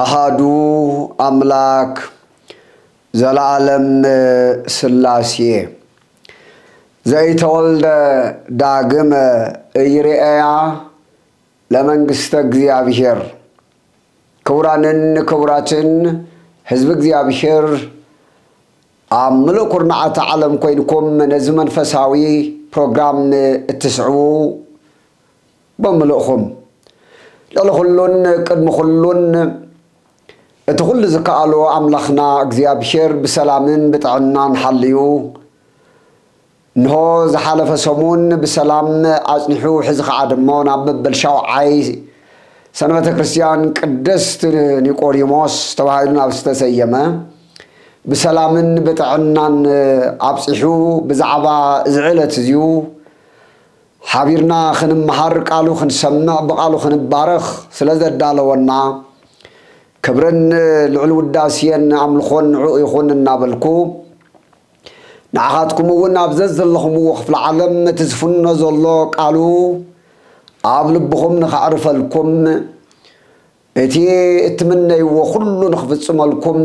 ኣሃዱ ኣምላክ ዘለኣለም ስላሴ ዘኢተወልደ ዳግመ እይርኤያ ለመንግስተ እግዚኣብሔር ክቡራንን ክቡራትን ህዝቢ እግዚኣብሔር ኣብ ምሉእ ኩርናዓት ዓለም ኮይንኩም ነዚ መንፈሳዊ ፕሮግራም እትስዕቡ ብምልእኹም ልዕሊ ኹሉን ቅድሚ ኹሉን እቲ ኹሉ ዝከኣሎ ኣምላኽና እግዚኣብሄር ብሰላምን ብጥዕናን ሓልዩ እንሆ ዝሓለፈ ሰሙን ብሰላም ኣጽኒሑ ሕዚ ኸዓ ድሞ ናብ መበል ሻውዓይ ሰንበተ ክርስቲያን ቅድስት ኒቆዲሞስ ተባሂሉ ናብ ዝተሰየመ ብሰላምን ብጥዕናን ኣብጺሑ ብዛዕባ እዚ ዕለት እዚዩ ሓቢርና ክንመሃር ቃሉ ክንሰምዕ ብቓሉ ክንባረኽ ስለ ዘዳለወና ክብርን ልዑል ውዳስየን ኣምልኾን ንዕኡ ይኹን እናበልኩ ንዓኻትኩም እውን ኣብ ዘዘለኹምዎ ክፍለ ዓለም እቲ ዝፍኖ ዘሎ ቃሉ ኣብ ልብኹም ንኸዕርፈልኩም እቲ እትምነይዎ ኩሉ ንክፍጽመልኩም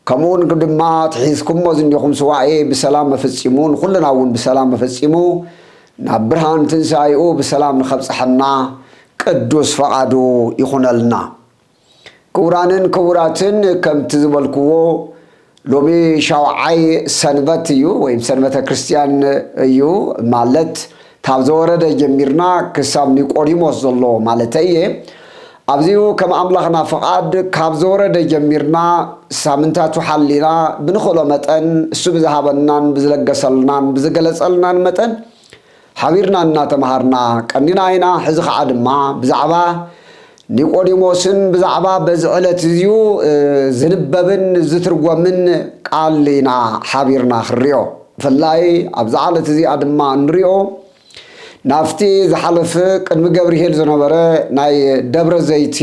ከምኡውን ድማ እቲ ሒዝኩሞ ዝኒኹም ሱባኤ ብሰላም ኣፈጺሙ ንኩልና እውን ብሰላም ኣፈጺሙ ናብ ብርሃን ትንሳኤኡ ብሰላም ንከብጽሐና ቅዱስ ፈቃዱ ይኹነልና። ክቡራንን ክቡራትን ከምቲ ዝበልክዎ ሎሚ ሻውዓይ ሰንበት እዩ ወይም ሰንበተ ክርስትያን እዩ ማለት ካብ ዘወረደ ጀሚርና ክሳብ ኒቆዲሞስ ዘሎ ማለተይ እየ ኣብዚኡ ከም ኣምላኽና ፍቓድ ካብ ዘወረደ ጀሚርና ሳምንታቱ ሓሊና ብንኽእሎ መጠን እሱ ብዝሃበናን ብዝለገሰልናን ብዝገለጸልናን መጠን ሓቢርና እናተመሃርና ቀኒና ኢና፣ ሕዚ ኸዓ ድማ ብዛዕባ ኒቆዲሞስን ብዛዕባ በዚ ዕለት እዚዩ ዝንበብን ዝትርጎምን ቃል ኢና ሓቢርና ክንሪኦ። ብፍላይ ኣብዛ ዕለት እዚኣ ድማ እንሪኦ ናብቲ ዝሓለፈ ቅድሚ ገብርሄል ዝነበረ ናይ ደብረ ዘይቲ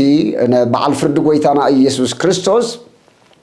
በዓል ፍርዲ ጎይታና ኢየሱስ ክርስቶስ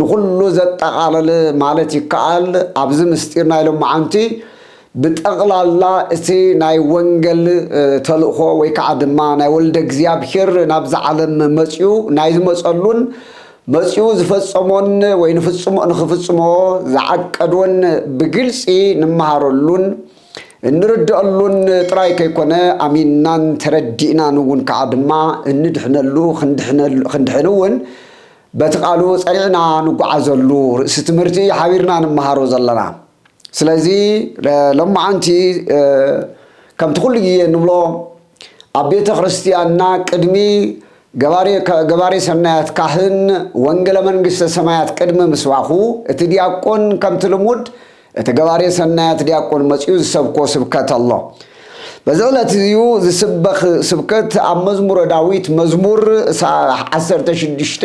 ንኹሉ ዘጠቓለለ ማለት ይከኣል። ኣብዚ ምስጢር ናይ ሎምዓንቲ ብጠቕላላ እቲ ናይ ወንገል ተልእኾ ወይ ከዓ ድማ ናይ ወልደ እግዚኣብሔር ናብዚ ዓለም መጺኡ ናይ ዝመጸሉን መጺኡ ዝፈጸሞን ወይ ንኽፍጽሞ ዝዓቀዶን ብግልጺ ንመሃረሉን እንርደኣሉን ጥራይ ከይኮነ ኣሚንናን ተረዲእናን እውን ከዓ ድማ እንድሕነሉ ክንድሕን እውን በቲ ቃሉ ጸኒዕና ንጎዓዘሉ ርእሲ ትምህርቲ እዩ ሓቢርና ንመሃሮ ዘለና። ስለዚ ሎማዓንቲ ከምቲ ኩሉ ግዜ ንብሎ ኣብ ቤተ ክርስትያንና ቅድሚ ገባሬ ሰናያት ካህን ወንገለ መንግስተ ሰማያት ቅድሚ ምስባኹ እቲ ዲያቆን ከምቲ ልሙድ እቲ ገባሬ ሰናያት ዲያቆን መጺኡ ዝሰብኮ ስብከት ኣሎ። በዚ ዕለት እዚዩ ዝስበኽ ስብከት ኣብ መዝሙረ ዳዊት መዝሙር ዓሰርተ ሽዱሽተ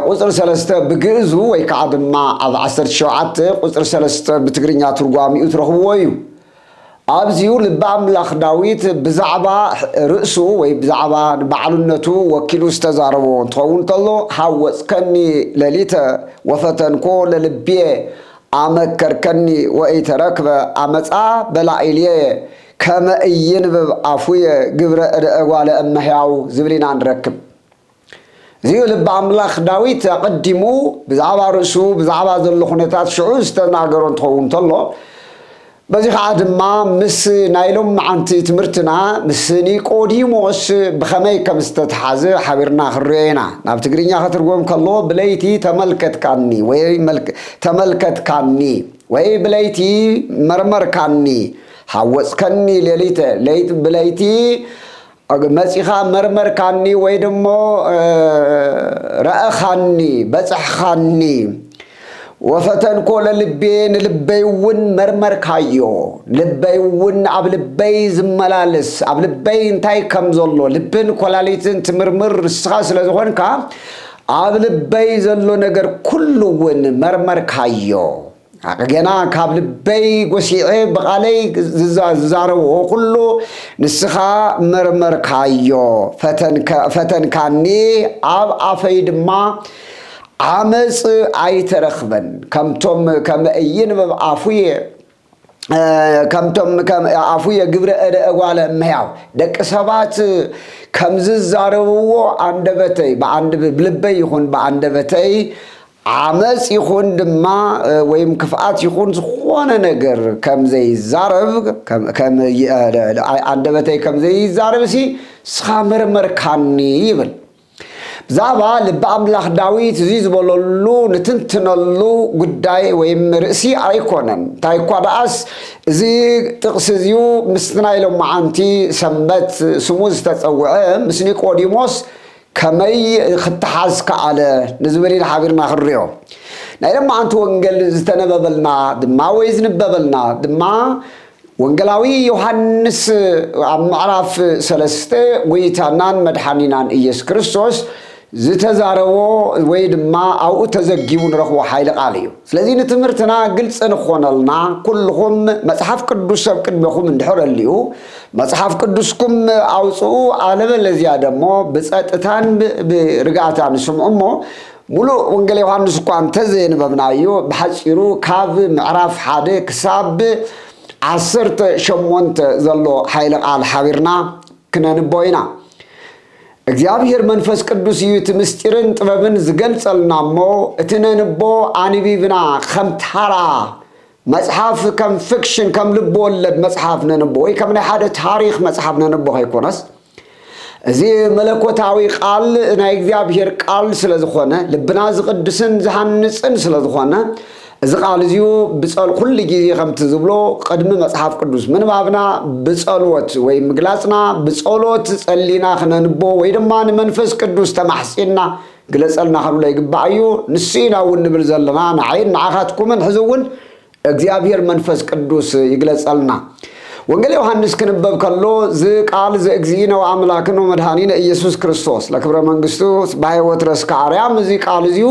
ቁጽሪ ሰለስተ ብግእዙ ወይ ከዓ ድማ ኣብ ዓሰርተ ሸውዓተ ቁጽሪ ሰለስተ ብትግርኛ ትርጓሚኡ ትረኽብዎ እዩ። ኣብዚ'ዩ ልቢ ኣምላኽ ዳዊት ብዛዕባ ርእሱ ወይ ብዛዕባ ንባዕሉነቱ ወኪሉ ዝተዛረቦ እንትኸውን ከሎ ሐወጽከኒ ሌሊተ ወፈተንኮ ለልብየ ኣመከርከኒ ወኢተረክበ ኣመጻ በላኢልየየ ከመ ኢይንብብ ኣፉየ ግብረ እደ እጓለ እመሕያው ዝብል ኢና ንረክብ። እዚ'ዩ ልቢ ኣምላኽ ዳዊት ኣቐዲሙ ብዛዕባ ርእሱ ብዛዕባ ዘሎ ኩነታት ሽዑ ዝተናገሮ እንትኸውን እንተሎ በዚ ኸዓ ድማ ምስ ናይ ሎምዓንቲ ትምህርትና ምስ ኒቆዲሞስ ብኸመይ ከም ዝተተሓዘ ሓቢርና ክንሪኦ ኢና ናብ ትግርኛ ከትርጎም ከሎ ብለይቲ ተመልከትካኒ ወይ ተመልከትካኒ ወይ ብለይቲ መርመርካኒ ሓወፅከኒ ሌሊተ ለይቲ ብለይቲ መጺኻ መርመርካኒ ወይ ደሞ ረኣኻኒ በጸሕኻኒ ወፈተንኮ ለልቤ ንልበይውን መርመርካዮ ልበይውን ኣብ ልበይ ዝመላልስ ኣብ ልበይ እንታይ ከም ዘሎ ልብን ኮላሊትን ትምርምር ንስኻ ስለ ዝኾንካ ኣብ ልበይ ዘሎ ነገር ኩሉ እውን መርመርካዮ ሓቂ ጌና ካብ ልበይ ጎሲዐ ብቓለይ ዝዛረብኦ ኩሉ ንስኻ መርመርካዮ፣ ፈተንካኒ፣ ኣብ ኣፈይ ድማ ዓመጽ ኣይተረኽበን፣ ከምቶም ከመ ኢይንብብ ኣፉየ፣ ከምቶም ከመ ኣፉየ ግብረ እደ እጓለ እመሕያው፣ ደቂ ሰባት ከም ዝዛረብዎ ኣንደበተይ ብኣንድ ብልበይ ይኹን ብኣንደበተይ ዓመጽ ይኹን ድማ ወይም ክፍኣት ይኹን ዝኾነ ነገር ከም ዘይዛረብ ከም ኣንደበተይ ከም ዘይዛረብ ሲ ስኻ መርመርካኒ ይብል። ብዛዕባ ልቢ ኣምላኽ ዳዊት እዚ ዝበለሉ ንትንትነሉ ጉዳይ ወይም ርእሲ ኣይኮነን። እንታይ እኳ ደኣስ እዚ ጥቕሲ እዚዩ ምስቲ ናይ ሎማዓንቲ ሰንበት ስሙ ዝተጸውዐ ምስ ኒቆዲሞስ ከመይ ኽተሓዝ ከኣለ? ንዝብል ኢና ሓቢርና ኽንሪኦ። ናይ ለማዓንቲ ወንገል ዝተነበበልና ድማ ወይ ዝንበበልና ድማ ወንገላዊ ዮሃንስ ኣብ ምዕራፍ ሰለስተ ጎይታናን መድሓኒናን እየሱስ ክርስቶስ ዝተዛረቦ ወይ ድማ ኣብኡ ተዘጊቡ ንረኽቦ ሓይሊ ቃል እዩ። ስለዚ ንትምህርትና ግልጺ ንክኾነልና ኩልኹም መጽሓፍ ቅዱስ ኣብ ቅድሜኹም እንድሕር ኣልኡ መጽሓፍ ቅዱስኩም ኣውጽኡ ኣለበለዚያ ደሞ ብጸጥታን ብርግኣታን ስምዑ እሞ ሙሉእ ወንጌል ዮሃንስ እኳ እንተዘየንበብናዮ ብሓጺሩ ካብ ምዕራፍ ሓደ ክሳብ ዓሰርተ ሸሞንተ ዘሎ ሓይለ ቃል ሓቢርና ክነንቦ ኢና እግዚኣብሔር መንፈስ ቅዱስ እዩ እቲ ምስጢርን ጥበብን ዝገልጸልና እሞ እቲ ነንቦ ኣንቢብና ከም ታራ መጽሓፍ ከም ፍክሽን ከም ልቢ ወለድ መጽሓፍ ነንቦ ወይ ከም ናይ ሓደ ታሪኽ መጽሓፍ ነንቦ ከይኮነስ እዚ መለኮታዊ ቃል ናይ እግዚኣብሔር ቃል ስለ ዝኾነ ልብና ዝቕድስን ዝሃንጽን ስለ ዝኾነ እዚ ቃል እዚኡ ብጸል ኩሉ ግዜ ከምቲ ዝብሎ ቅድሚ መጽሓፍ ቅዱስ ምንባብና ብጸልወት ወይ ምግላጽና ብጸሎት ጸሊና ክነንቦ ወይ ድማ ንመንፈስ ቅዱስ ተማሕጺንና ግለጸልና ክንብሎ ይግባእ እዩ ንሱ ኢና እውን ንብል ዘለና ንዓይን ንዓኻትኩምን ሕዚ እውን እግዚኣብሔር መንፈስ ቅዱስ ይግለጸልና ወንጌል ዮሐንስ ክንበብ ከሎ ዝ ቃል ዘእግዚእነ ወአምላክን ወመድኃኒነ ኢየሱስ ክርስቶስ ለክብረ መንግስቱ ጽባሔ ወትረስ ከአርያም እዚ ቃል እዚሁ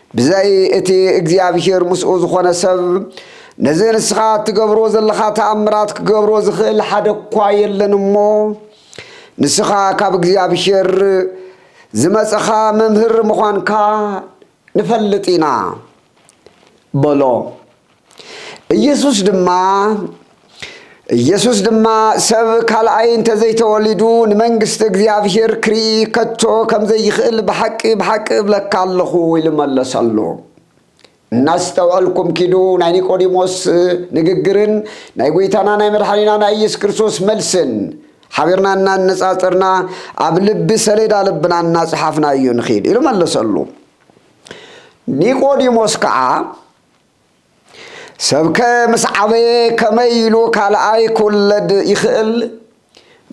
ብዘይ እቲ እግዚኣብሄር ምስኡ ዝኾነ ሰብ፣ ነዚ ንስኻ እትገብሮ ዘለኻ ተኣምራት ክገብሮ ዝኽእል ሓደ እኳ የለን እሞ፣ ንስኻ ካብ እግዚኣብሄር ዝመጸኻ መምህር ምዃንካ ንፈልጥ ኢና። በሎ። ኢየሱስ ድማ ኢየሱስ ድማ ሰብ ካልኣይ እንተዘይተወሊዱ ንመንግስቲ እግዚኣብሔር ክርኢ ከቶ ከምዘይኽእል ብሓቂ ብሓቂ እብለካ ኣለኹ ኢሉ መለሰሉ። እናስተውዐልኩም ኪዱ ናይ ኒቆዲሞስ ንግግርን ናይ ጐይታና ናይ መድሓኒና ናይ ኢየሱስ ክርስቶስ መልስን ሓቢርና እናነጻጸርና ኣብ ልቢ ሰሌዳ ልብና እናጸሓፍናዮ ንኺድ ኢሉ መለሰሉ ኒቆዲሞስ ከዓ ሰብከ ምስ ዓበየ ከመይ ኢሉ ካልኣይ ክውለድ ይኽእል?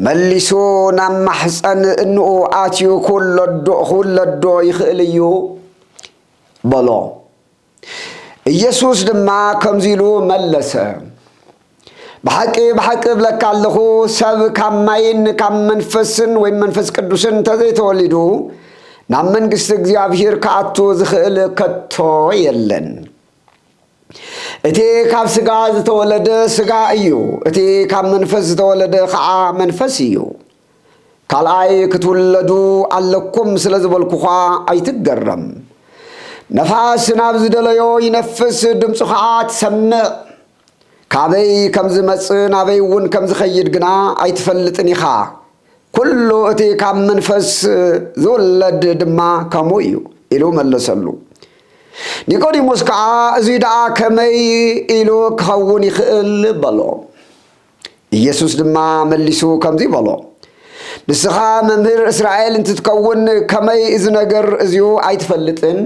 መሊሱ ናብ ማሕፀን እንኡ ኣትዩ ክውለዶ ይኽእል እዩ በሎ። ኢየሱስ ድማ ከምዚ ኢሉ መለሰ። ብሓቂ ብሓቂ እብለካ ኣለኹ፣ ሰብ ካብ ማይን ካብ መንፈስን ወይም መንፈስ ቅዱስን እንተዘይተወሊዱ ናብ መንግስቲ እግዚኣብሂር ክኣቱ ዝኽእል ከቶ የለን። እቲ ካብ ስጋ ዝተወለደ ስጋ እዩ፣ እቲ ካብ መንፈስ ዝተወለደ ከዓ መንፈስ እዩ። ካልኣይ ክትውለዱ ኣለኩም ስለ ዝበልኩዃ ኣይትገረም። ነፋስ ናብ ዝደለዮ ይነፍስ፣ ድምፁ ከዓ ትሰምዕ። ካበይ ከም ዝመጽእ ናበይ'ውን ከም ዝኸይድ ግና ኣይትፈልጥን ኢኻ። ኵሉ እቲ ካብ መንፈስ ዝውለድ ድማ ከምኡ እዩ ኢሉ መለሰሉ። ኒቆዲሞስ ከኣ እዙይ ደኣ ከመይ ኢሉ ክኸውን ይኽእል? በሎ። ኢየሱስ ድማ መሊሱ ከምዙይ በሎ፣ ንስኻ መምህር እስራኤል እንትትከውን ከመይ እዚ ነገር እዚዩ ኣይትፈልጥን?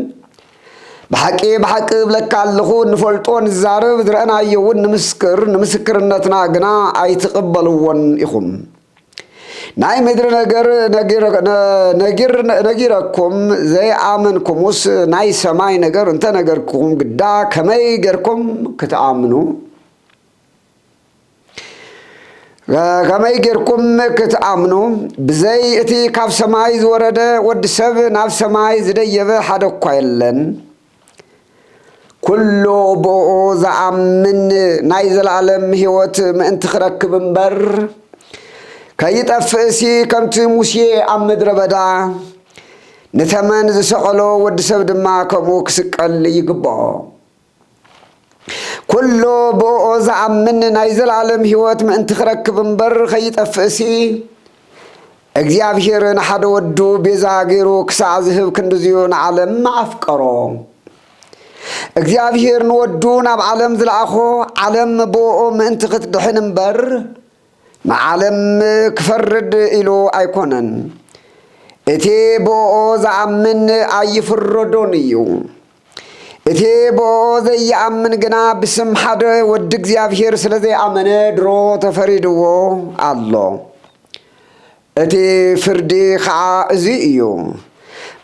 ብሓቂ ብሓቂ እብለካ ኣለኹ እንፈልጦ ንዛረብ ዝረእናዮውን ንምስክር ንምስክርነትና ግና ኣይትቕበልዎን ኢኹም። ናይ ምድሪ ነገር ነጊረኩም ዘይኣመንኩሙስ ናይ ሰማይ ነገር እንተነገርኩም ግዳ ከመይ ጌርኩም ክትኣምኑ? ከመይ ጌርኩም ክትኣምኑ ብዘይ እቲ ካብ ሰማይ ዝወረደ ወዲ ሰብ ናብ ሰማይ ዝደየበ ሓደ እኳ የለን ኩሉ ብኡ ዝኣምን ናይ ዘለኣለም ህይወት ምእንቲ ክረክብ እምበር ከይጠፍእሲ ከምቲ ሙሴ ኣብ ምድረ በዳ ንተመን ዝሰቐሎ ወዲ ሰብ ድማ ከምኡ ክስቀል ይግብኦ ኵሎ ብእኦ ዝኣምን ናይ ዘለኣለም ህይወት ምእንቲ ኽረክብ እምበር ኸይጠፍእሲ፣ እግዚኣብሄር ንሓደ ወዱ ቤዛ ገይሩ ክሳዕ ዝህብ ክንድዚዩ ንዓለም ኣፍቀሮ። እግዚኣብሄር ንወዱ ናብ ዓለም ዝለኣኾ፣ ዓለም ብእኦ ምእንቲ ኽትድሕን እምበር፣ ንዓለም ክፈርድ ኢሉ ኣይኰነን። እቲ ብእኦ ዝኣምን ኣይፍረዶን እዩ። እቲ ብእኦ ዘይኣምን ግና ብስም ሓደ ወዲ እግዚኣብሔር ስለ ዘይኣመነ ድሮ ተፈሪድዎ ኣሎ። እቲ ፍርዲ ኸዓ እዙይ እዩ።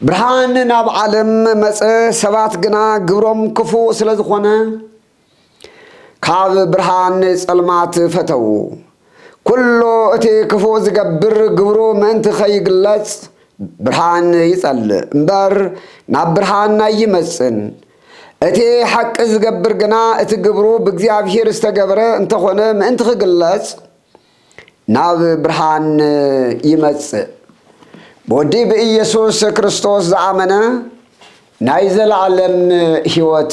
ብርሃን ናብ ዓለም መጸ፣ ሰባት ግና ግብሮም ክፉእ ስለ ዝኾነ፣ ካብ ብርሃን ንጸልማት ፈተዉ። ኩሉ እቲ ክፉእ ዝገብር ግብሩ ምእንቲ ኸይግለጽ ብርሃን ይጸልእ እምበር ናብ ብርሃን ኣይመጽእን። እቲ ሓቂ ዝገብር ግና እቲ ግብሩ ብእግዚኣብሔር ዝተገብረ እንተኾነ ምእንቲ ክግለጽ ናብ ብርሃን ይመጽእ። ብወዲ ብኢየሱስ ክርስቶስ ዝኣመነ ናይ ዘለዓለም ሕይወት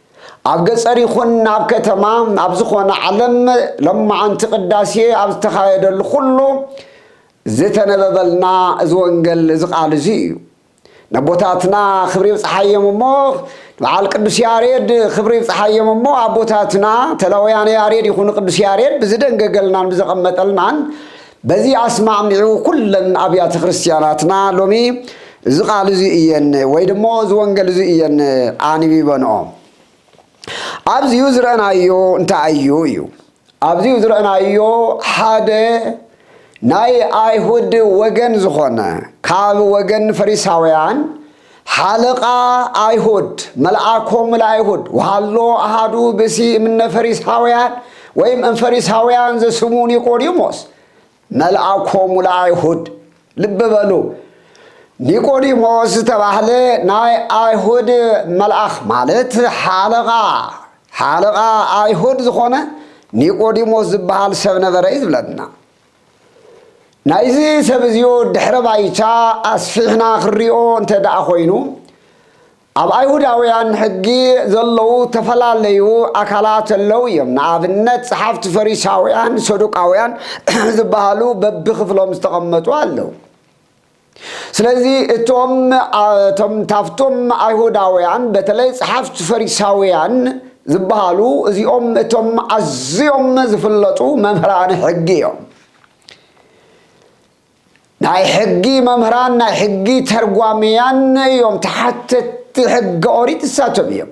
ኣብ ገፀር ይኹን ኣብ ከተማ ኣብ ዝኾነ ዓለም ሎማዓንቲ ቅዳሴ ኣብ ዝተኻየደሉ ኩሉ ዝተነበበልና እዚ ወንገል እዚ ቃል እዚ እዩ። ነቦታትና ክብሪ ይብፅሓዮም እሞ በዓል ቅዱስ ያሬድ ክብሪ ይብፅሓዮም እሞ ኣቦታትና ተላውያነ ያሬድ ይኹኑ ቅዱስ ያሬድ ብዝደንገገልናን ብዘቐመጠልናን በዚ ኣስማዕሚዑ ኩለን ኣብያተ ክርስቲያናትና ሎሚ እዚ ቃል እዚ እየን ወይ ድሞ እዚ ወንገል እዚ እየን ኣንቢበንኦ። ኣብዚኡ ዝረእናዮ እንታይ እዩ እዩ ኣብዚኡ ዝረእናዮ ሓደ ናይ ኣይሁድ ወገን ዝኾነ ካብ ወገን ፈሪሳውያን ሓለቃ ኣይሁድ መልኣኮሙ ለኣይሁድ ወሃሎ ኣሃዱ ብእሲ እምነ ፈሪሳውያን ወይም እምፈሪሳውያን ዘስሙ ኒቆዲሞስ መልኣኮሙ ለኣይሁድ ልብ በሉ ኒቆዲሞስ ዝተባህለ ናይ ኣይሁድ መልኣኽ ማለት ሓለቓ ሓለቓ ኣይሁድ ዝኾነ ኒቆዲሞስ ዝበሃል ሰብ ነበረ እዩ ዝብለና ናይዚ ሰብ እዚዮ ድሕረ ባይታ ኣስፊሕና ክንሪኦ እንተደኣ ኮይኑ ኣብ ኣይሁዳውያን ሕጊ ዘለዉ ተፈላለዩ ኣካላት ኣለዉ እዮም። ንኣብነት ጸሓፍቲ ፈሪሳውያን፣ ሰዱቃውያን ዝበሃሉ በብክፍሎም ዝተቐመጡ ኣለዉ። ስለዚ እቶም እቶም ታፍቶም ኣይሁዳውያን በተለይ ጸሓፍት ፈሪሳውያን ዝበሃሉ እዚኦም እቶም ኣዝዮም ዝፍለጡ መምህራን ሕጊ እዮም ናይ ሕጊ መምህራን ናይ ሕጊ ተርጓምያን እዮም ተሓተቲ ሕገ ኦሪት እሳቶም እዮም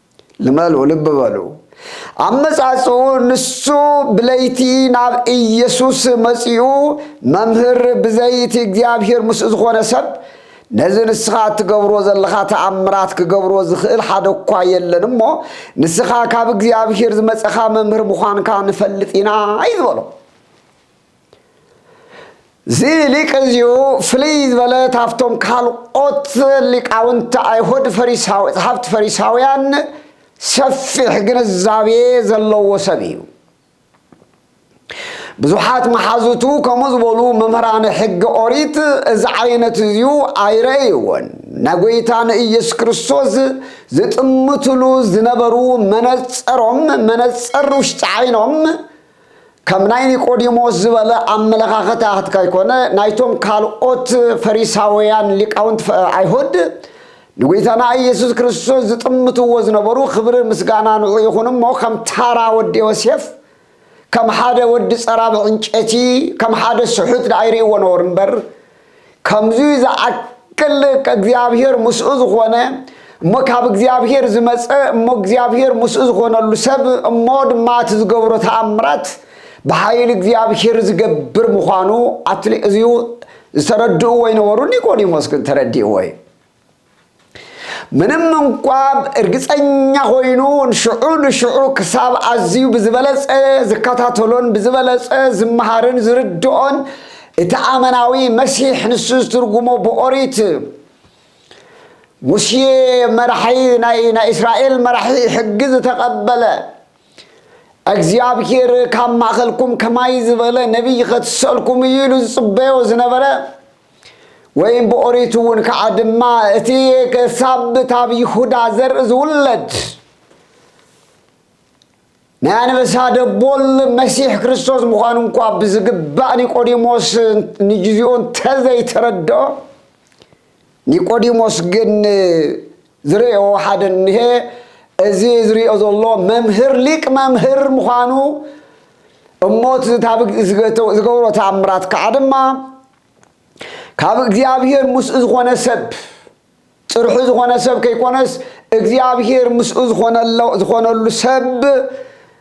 ልመሉ ልቢ በሉ ኣመጻጽኡ ንሱ ብለይቲ ናብ ኢየሱስ መጺኡ መምህር ብዘይ እቲ እግዚኣብሔር ምስኡ ዝኾነ ሰብ ነዚ ንስኻ እትገብሮ ዘለኻ ተኣምራት ክገብሮ ዝኽእል ሓደ እኳ የለን እሞ ንስኻ ካብ እግዚኣብሔር ዝመጸኻ መምህር ምዃንካ ንፈልጥ ኢና እዩ ዝበሎ እዚ ሊቅ እዚኡ ፍልይ ዝበለ ካብቶም ካልኦት ሊቃውንቲ ኣይሁድ ፈሪሳዊ ጸሓፍቲ ፈሪሳውያን ሰፊሕ ግንዛቤ ዘለዎ ሰብ እዩ። ብዙሓት መሓዙቱ ከምኡ ዝበሉ መምህራን ሕጊ ኦሪት እዚ ዓይነት እዚዩ ኣይረእይዎን ናይ ጎይታ ንኢየሱስ ክርስቶስ ዝጥምትሉ ዝነበሩ መነጸሮም መነጸር ውሽጢ ዓይኖም ከም ናይ ኒቆዲሞስ ዝበለ ኣመለኻኸታትካ ኣይኮነ ናይቶም ካልኦት ፈሪሳውያን ሊቃውንት ኣይሁድ ንጎይታና ኢየሱስ ክርስቶስ ዝጥምትዎ ዝነበሩ ክብሪ ምስጋና ንዑ ይኹን እሞ ከም ታራ ወዲ ዮሴፍ ከም ሓደ ወዲ ጸራብ ዕንጨቲ ከም ሓደ ስሑት ደኣ ይርእይዎ ነበሩ እምበር ከምዙይ ዝኣክል እግዚኣብሔር ምስኡ ዝኾነ እሞ ካብ እግዚኣብሔር ዝመፀ እሞ እግዚኣብሔር ምስኡ ዝኾነሉ ሰብ እሞ ድማ እቲ ዝገብሮ ተኣምራት ብሓይል እግዚኣብሔር ዝገብር ምዃኑ ኣትሊ እዚዩ ዝተረድእዎ ይነበሩ ኒቆዲሞስ ግን ተረዲእዎ እዩ ምንም እንኳ እርግጸኛ ኮይኑ ሽዑ ንሽዑ ክሳብ ኣዝዩ ብዝበለጸ ዝከታተሎን ብዝበለጸ ዝመሃርን ዝርድኦን እቲ ኣመናዊ መሲሕ ንሱ ዝትርጉሞ ብኦሪት ሙሴ መራሒ ናይ ናይ እስራኤል መራሒ ሕጊ ዝተቐበለ እግዚኣብሔር ካብ ማእኸልኩም ከማይ ዝበለ ነቢይ ኸትሰልኩም እዩ ኢሉ ዝፅበዮ ዝነበረ ወይም ብኦሪት እውን ከዓ ድማ እቲ ክሳብ ታብ ይሁዳ ዘርኢ ዝውለድ ናይ ኣንበሳ ደቦል መሲሕ ክርስቶስ ምዃኑ እንኳ ብዝግባእ ኒቆዲሞስ ንግዚኡ እንተዘይተረድኦ ኒቆዲሞስ ግን ዝርእዮ ሓደ እንሄ እዚ ዝርእዮ ዘሎ መምህር ሊቅ መምህር ምዃኑ እሞ እቲ ዝገብሮ ተኣምራት ከዓ ድማ ካብ እግዚኣብሔር ምስኡ ዝኾነ ሰብ ጥርሑ ዝኾነ ሰብ ከይኮነስ እግዚኣብሔር ምስኡ ዝኾነሉ ሰብ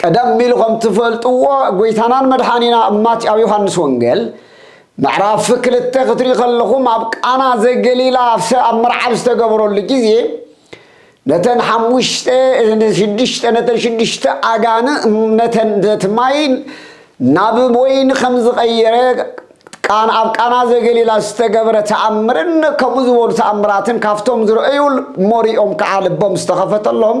ቀደም ኢሉ ከም ትፈልጥዎ ጎይታናን መድሓኒና እማት ኣብ ዮሃንስ ወንጌል ምዕራፍ ክልተ ክትሪኡ ከለኹም ኣብ ቃና ዘገሊላ ኣብ መርዓ ኣብ ዝተገበረሉ ግዜ ነተን ሓሙሽተ ሽዱሽተ ነተን ሽዱሽተ ኣጋን ነተን ነቲ ማይ ናብ ወይኒ ከም ዝቐየረ ቃን ኣብ ቃና ዘገሊላ ዝተገብረ ተኣምርን ከምኡ ዝበሉ ተኣምራትን ካብቶም ዝረአዩ ሞሪኦም ከዓ ልቦም ዝተኸፈተሎም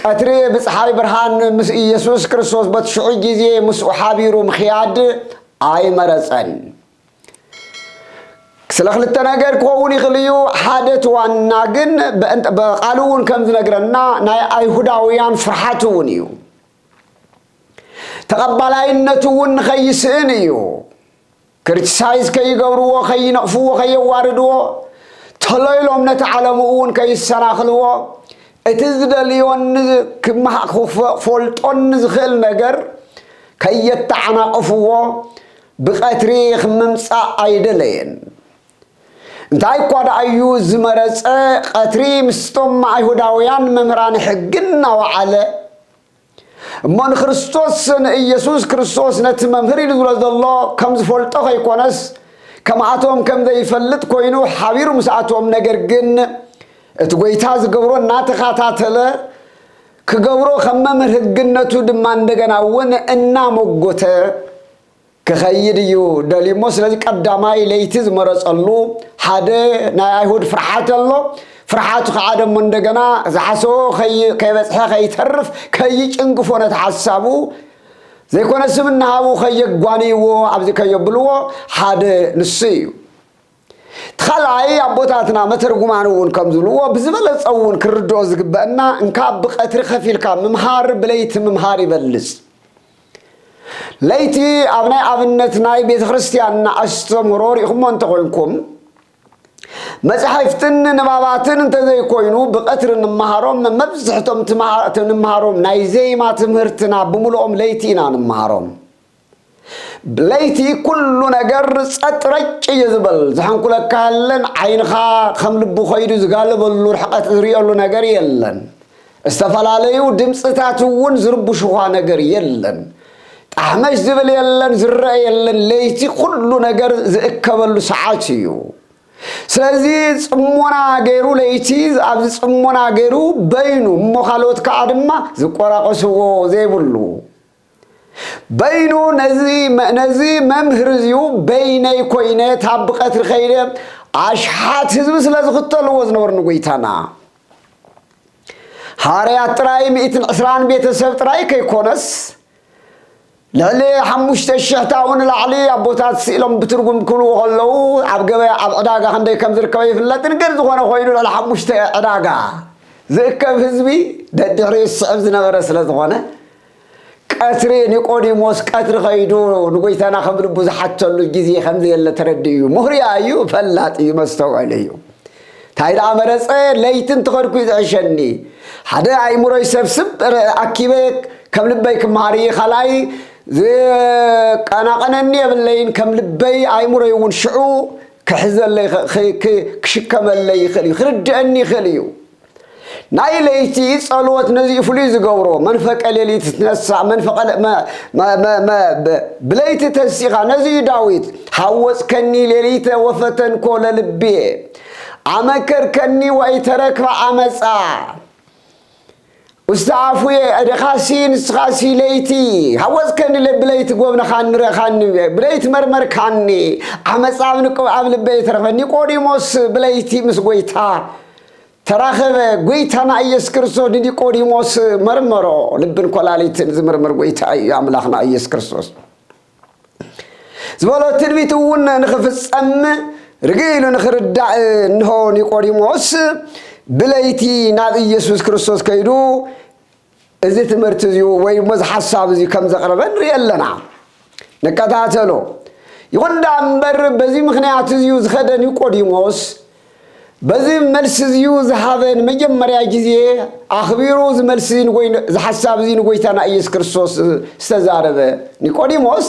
ቀትሪ ብጸሓይ ብርሃን ምስ ኢየሱስ ክርስቶስ በቲ ሽዑ ጊዜ ምስኡ ሓቢሩ ምኽያድ ኣይመረጸን። ስለ ክልተ ነገር ክኸውን ይኽእል እዩ። ሓደ እቲ ዋና ግን ቃሉ እውን ከም ዝነግረና ናይ ኣይሁዳውያን ፍርሓት እውን እዩ። ተቐባላይነቱ እውን ንኸይስእን እዩ። ክርቲሳይዝ ከይገብርዎ ከይነቕፍዎ ከየዋርድዎ ተሎ ኢሎም ነቲ ዓለሙ እውን ከይሰናኽልዎ እቲ ዝደልዮን ክፈልጦን ንዝኽእል ነገር ከየተዓናቕፍዎ ብቐትሪ ክምምጻእ ኣይደለየን። እንታይ እኳ ደኣ እዩ ዝመረጸ፣ ቐትሪ ምስቶም ኣይሁዳውያን መምህራን ሕጊ እናወዓለ፣ እሞ ንክርስቶስ ንኢየሱስ ክርስቶስ ነቲ መምህር ኢሉ ዝብሎ ዘሎ ከም ዝፈልጦ ከይኮነስ ከምኣቶም ከም ዘይፈልጥ ኮይኑ ሓቢሩ ምስኣቶም ነገር ግን እቲ ጎይታ ዝገብሮ እናተኸታተለ ክገብሮ ከም መምህር ህግነቱ ድማ እንደገና እውን እናመጎተ ክኸይድ እዩ ደልዩ እሞ ስለዚ ቀዳማይ ለይቲ ዝመረጸሉ ሓደ ናይ ኣይሁድ ፍርሓት ኣሎ ፍርሓቱ ከዓ ደሞ እንደገና ዝሓሰቦ ከይበፅሐ ከይተርፍ ከይጭንግፎ ነቲ ሓሳቡ ዘይኮነ ስም እናሃቡ ከየጓንይዎ ኣብዚ ከየብልዎ ሓደ ንሱ እዩ እቲ ካልኣይ ኣቦታትና መተርጉማን እውን ከም ዝብልዎ ብዝበለፀ እውን ክርድኦ ዝግበአና እንካብ ብቀትሪ ከፊልካ ምምሃር ብለይቲ ምምሃር ይበልፅ ለይቲ ኣብ ናይ ኣብነት ናይ ቤተ ክርስቲያንና ኣስተምህሮ ሪእኹሞ እንተኾይንኩም መጻሕፍትን ንባባትን እንተዘይኮይኑ ብቐትሪ እንመሃሮም መብዝሕቶም እንመሃሮም ናይ ዜማ ትምህርትና ብምልኦም ለይቲ ኢና እንመሃሮም ለይቲ ኩሉ ነገር ጸጥ ረጭ እዩ ዝበል ዝሐንኩለካ የለን ዓይንኻ ከም ልቡ ኮይዱ ዝጋለበሉ ርሕቀት ዝርየሉ ነገር የለን ዝተፈላለዩ ድምፅታት እውን ዝርብሹኻ ነገር የለን። ጣሕመሽ ዝብል የለን፣ ዝረኣ የለን፣ ለይቲ ኩሉ ነገር ዝእከበሉ ሰዓት እዩ። ስለዚ ፅሞና ገይሩ ለይቲ ኣብዚ ፅሞና ገይሩ በይኑ እሞ ካልኦት ከዓ ድማ ዝቆራቆስዎ ዘይብሉ በይኑ ነዚ መምህር እዚዩ በይነይ ኮይነ ታብ ብቀትሪ ከይደ ኣሽሓት ህዝቢ ስለ ዝኽተልዎ ዝነበሩ ንጎይታና ሃርያት ጥራይ ሚእትን ዕስራን ቤተሰብ ጥራይ ከይኮነስ ልዕሊ ሓሙሽተ ሽሕ ታኡ ንላዕሊ ኣቦታት ስኢሎም ብትርጉም ክብልዎ ከለዉ ኣብ ገበያ ኣብ ዕዳጋ ክንደይ ከም ዝርከበ ይፍለጥን ግን ዝኾነ ኮይኑ ልዕሊ ሓሙሽተ ዕዳጋ ዝእከብ ህዝቢ ደድሕሪኡ ዝስዕብ ዝነበረ ስለ ዝኾነ ቀትሪ ኒቆዲሞስ ቀትሪ ከይዱ ንጎይታና ከም ልቡ ዝሓተሉ ግዜ ከም ዘየለ ተረዲኡ እዩ። ሙህርያ እዩ፣ ፈላጥ እዩ፣ መስተውዕል እዩ። እንታይ ደኣ መረጸ፣ ለይቲ እንትኸድኩ እዩ ዝዕሸኒ። ሓደ ኣእምሮይ ሰብስብ ኣኪበ ከም ልበይ ክመሃር እየ፣ ካልኣይ ዝቀናቐነኒ የብለይን፣ ከም ልበይ ኣእምሮይ እውን ሽዑ ክሕዘለይ ክሽከመለይ ይኽእል እዩ፣ ክርድኣኒ ይኽእል እዩ። ናይ ለይቲ ጸሎት ነዚ ፍሉይ ዝገብሮ መንፈቀ ሌሊት ትነሳእ ብለይቲ ተንሲኻ ነዚ እዩ ዳዊት ሃወፅከኒ ሌሊተ ወፈተንኮ ለልቤ ኣመከርከኒ ወኢተረክበ ዓመፃ ውስተ ኣፉየ እድኻሲ ንስኻሲ ለይቲ ሃወፅከኒ ብለይቲ ጎብነኻ ንረኻኒ ብለይቲ መርመርካኒ ዓመፃ ኣብ ልበይ ተረኽበ ኒቆዲሞስ ብለይቲ ምስ ጎይታ ተራኸበ ጎይታና ኢየሱስ ክርስቶስ ንኒቆዲሞስ መርመሮ ልብን ኮላሊትን ዝምርምር ጎይታ እዩ ኣምላኽና ኢየሱስ ክርስቶስ ዝበሎ ትንቢት እውን ንኽፍጸም ርግእ ኢሉ ንኽርዳእ እንሆ ኒቆዲሞስ ብለይቲ ናብ ኢየሱስ ክርስቶስ ከይዱ እዚ ትምህርቲ እዚ ወይ እሞ እዚ ሓሳብ እዚ ከም ዘቕረበ ንርኢ ኣለና ንከታተሎ ይኹን ደኣ እምበር በዚ ምኽንያት እዚዩ ዝኸደ ኒቆዲሞስ በዚ መልሲ እዚዩ ዝሃበ ንመጀመርያ ግዜ ኣኽቢሩ እዚ መልሲ እዚ ሓሳብ እዚ ንጎይታና ኢየሱስ ክርስቶስ ዝተዛረበ ኒቆዲሞስ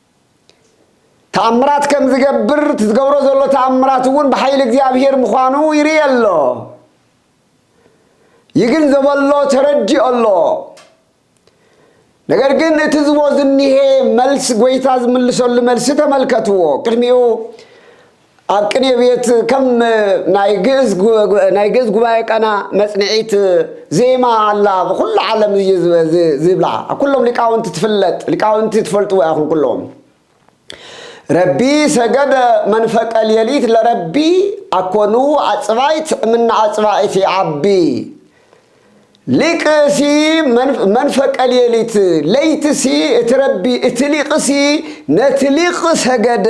ተኣምራት ከም ዝገብር እቲ ዝገብሮ ዘሎ ተኣምራት እውን ብሓይሊ እግዚኣብሔር ምዃኑ ይርኢ ኣሎ ይግንዘቦ ኣሎ ተረዲኦ ኣሎ ነገር ግን እቲ ዝቦ ዝኒሄ መልስ ጎይታ ዝምልሰሉ መልሲ ተመልከትዎ ቅድሚኡ ኣብ ቅኔ ቤት ከም ናይ ግእዝ ጉ- ጉ- ናይ ግእዝ ጉባኤ ቀና መጽንዒት ዜማ ኣላ ብኩሉ ዓለም እዩ ዝብ- ዝ- ዝብላ ኣብ ኩሎም ሊቃውንቲ ትፍለጥ ሊቃውንቲ ትፈልጥዎ ኢኹም ኩሎም ረቢ ሰገደ መንፈቀ ሌሊት ለረቢ ኣኮኑ ኣጽባይት እምነ ኣጽባይት ይዓቢ ሊቅሲ መንፍ- መንፈቀ ሌሊት ለይትሲ እቲ ረቢ እቲ ሊቅሲ ነቲ ሊቅ ሰገደ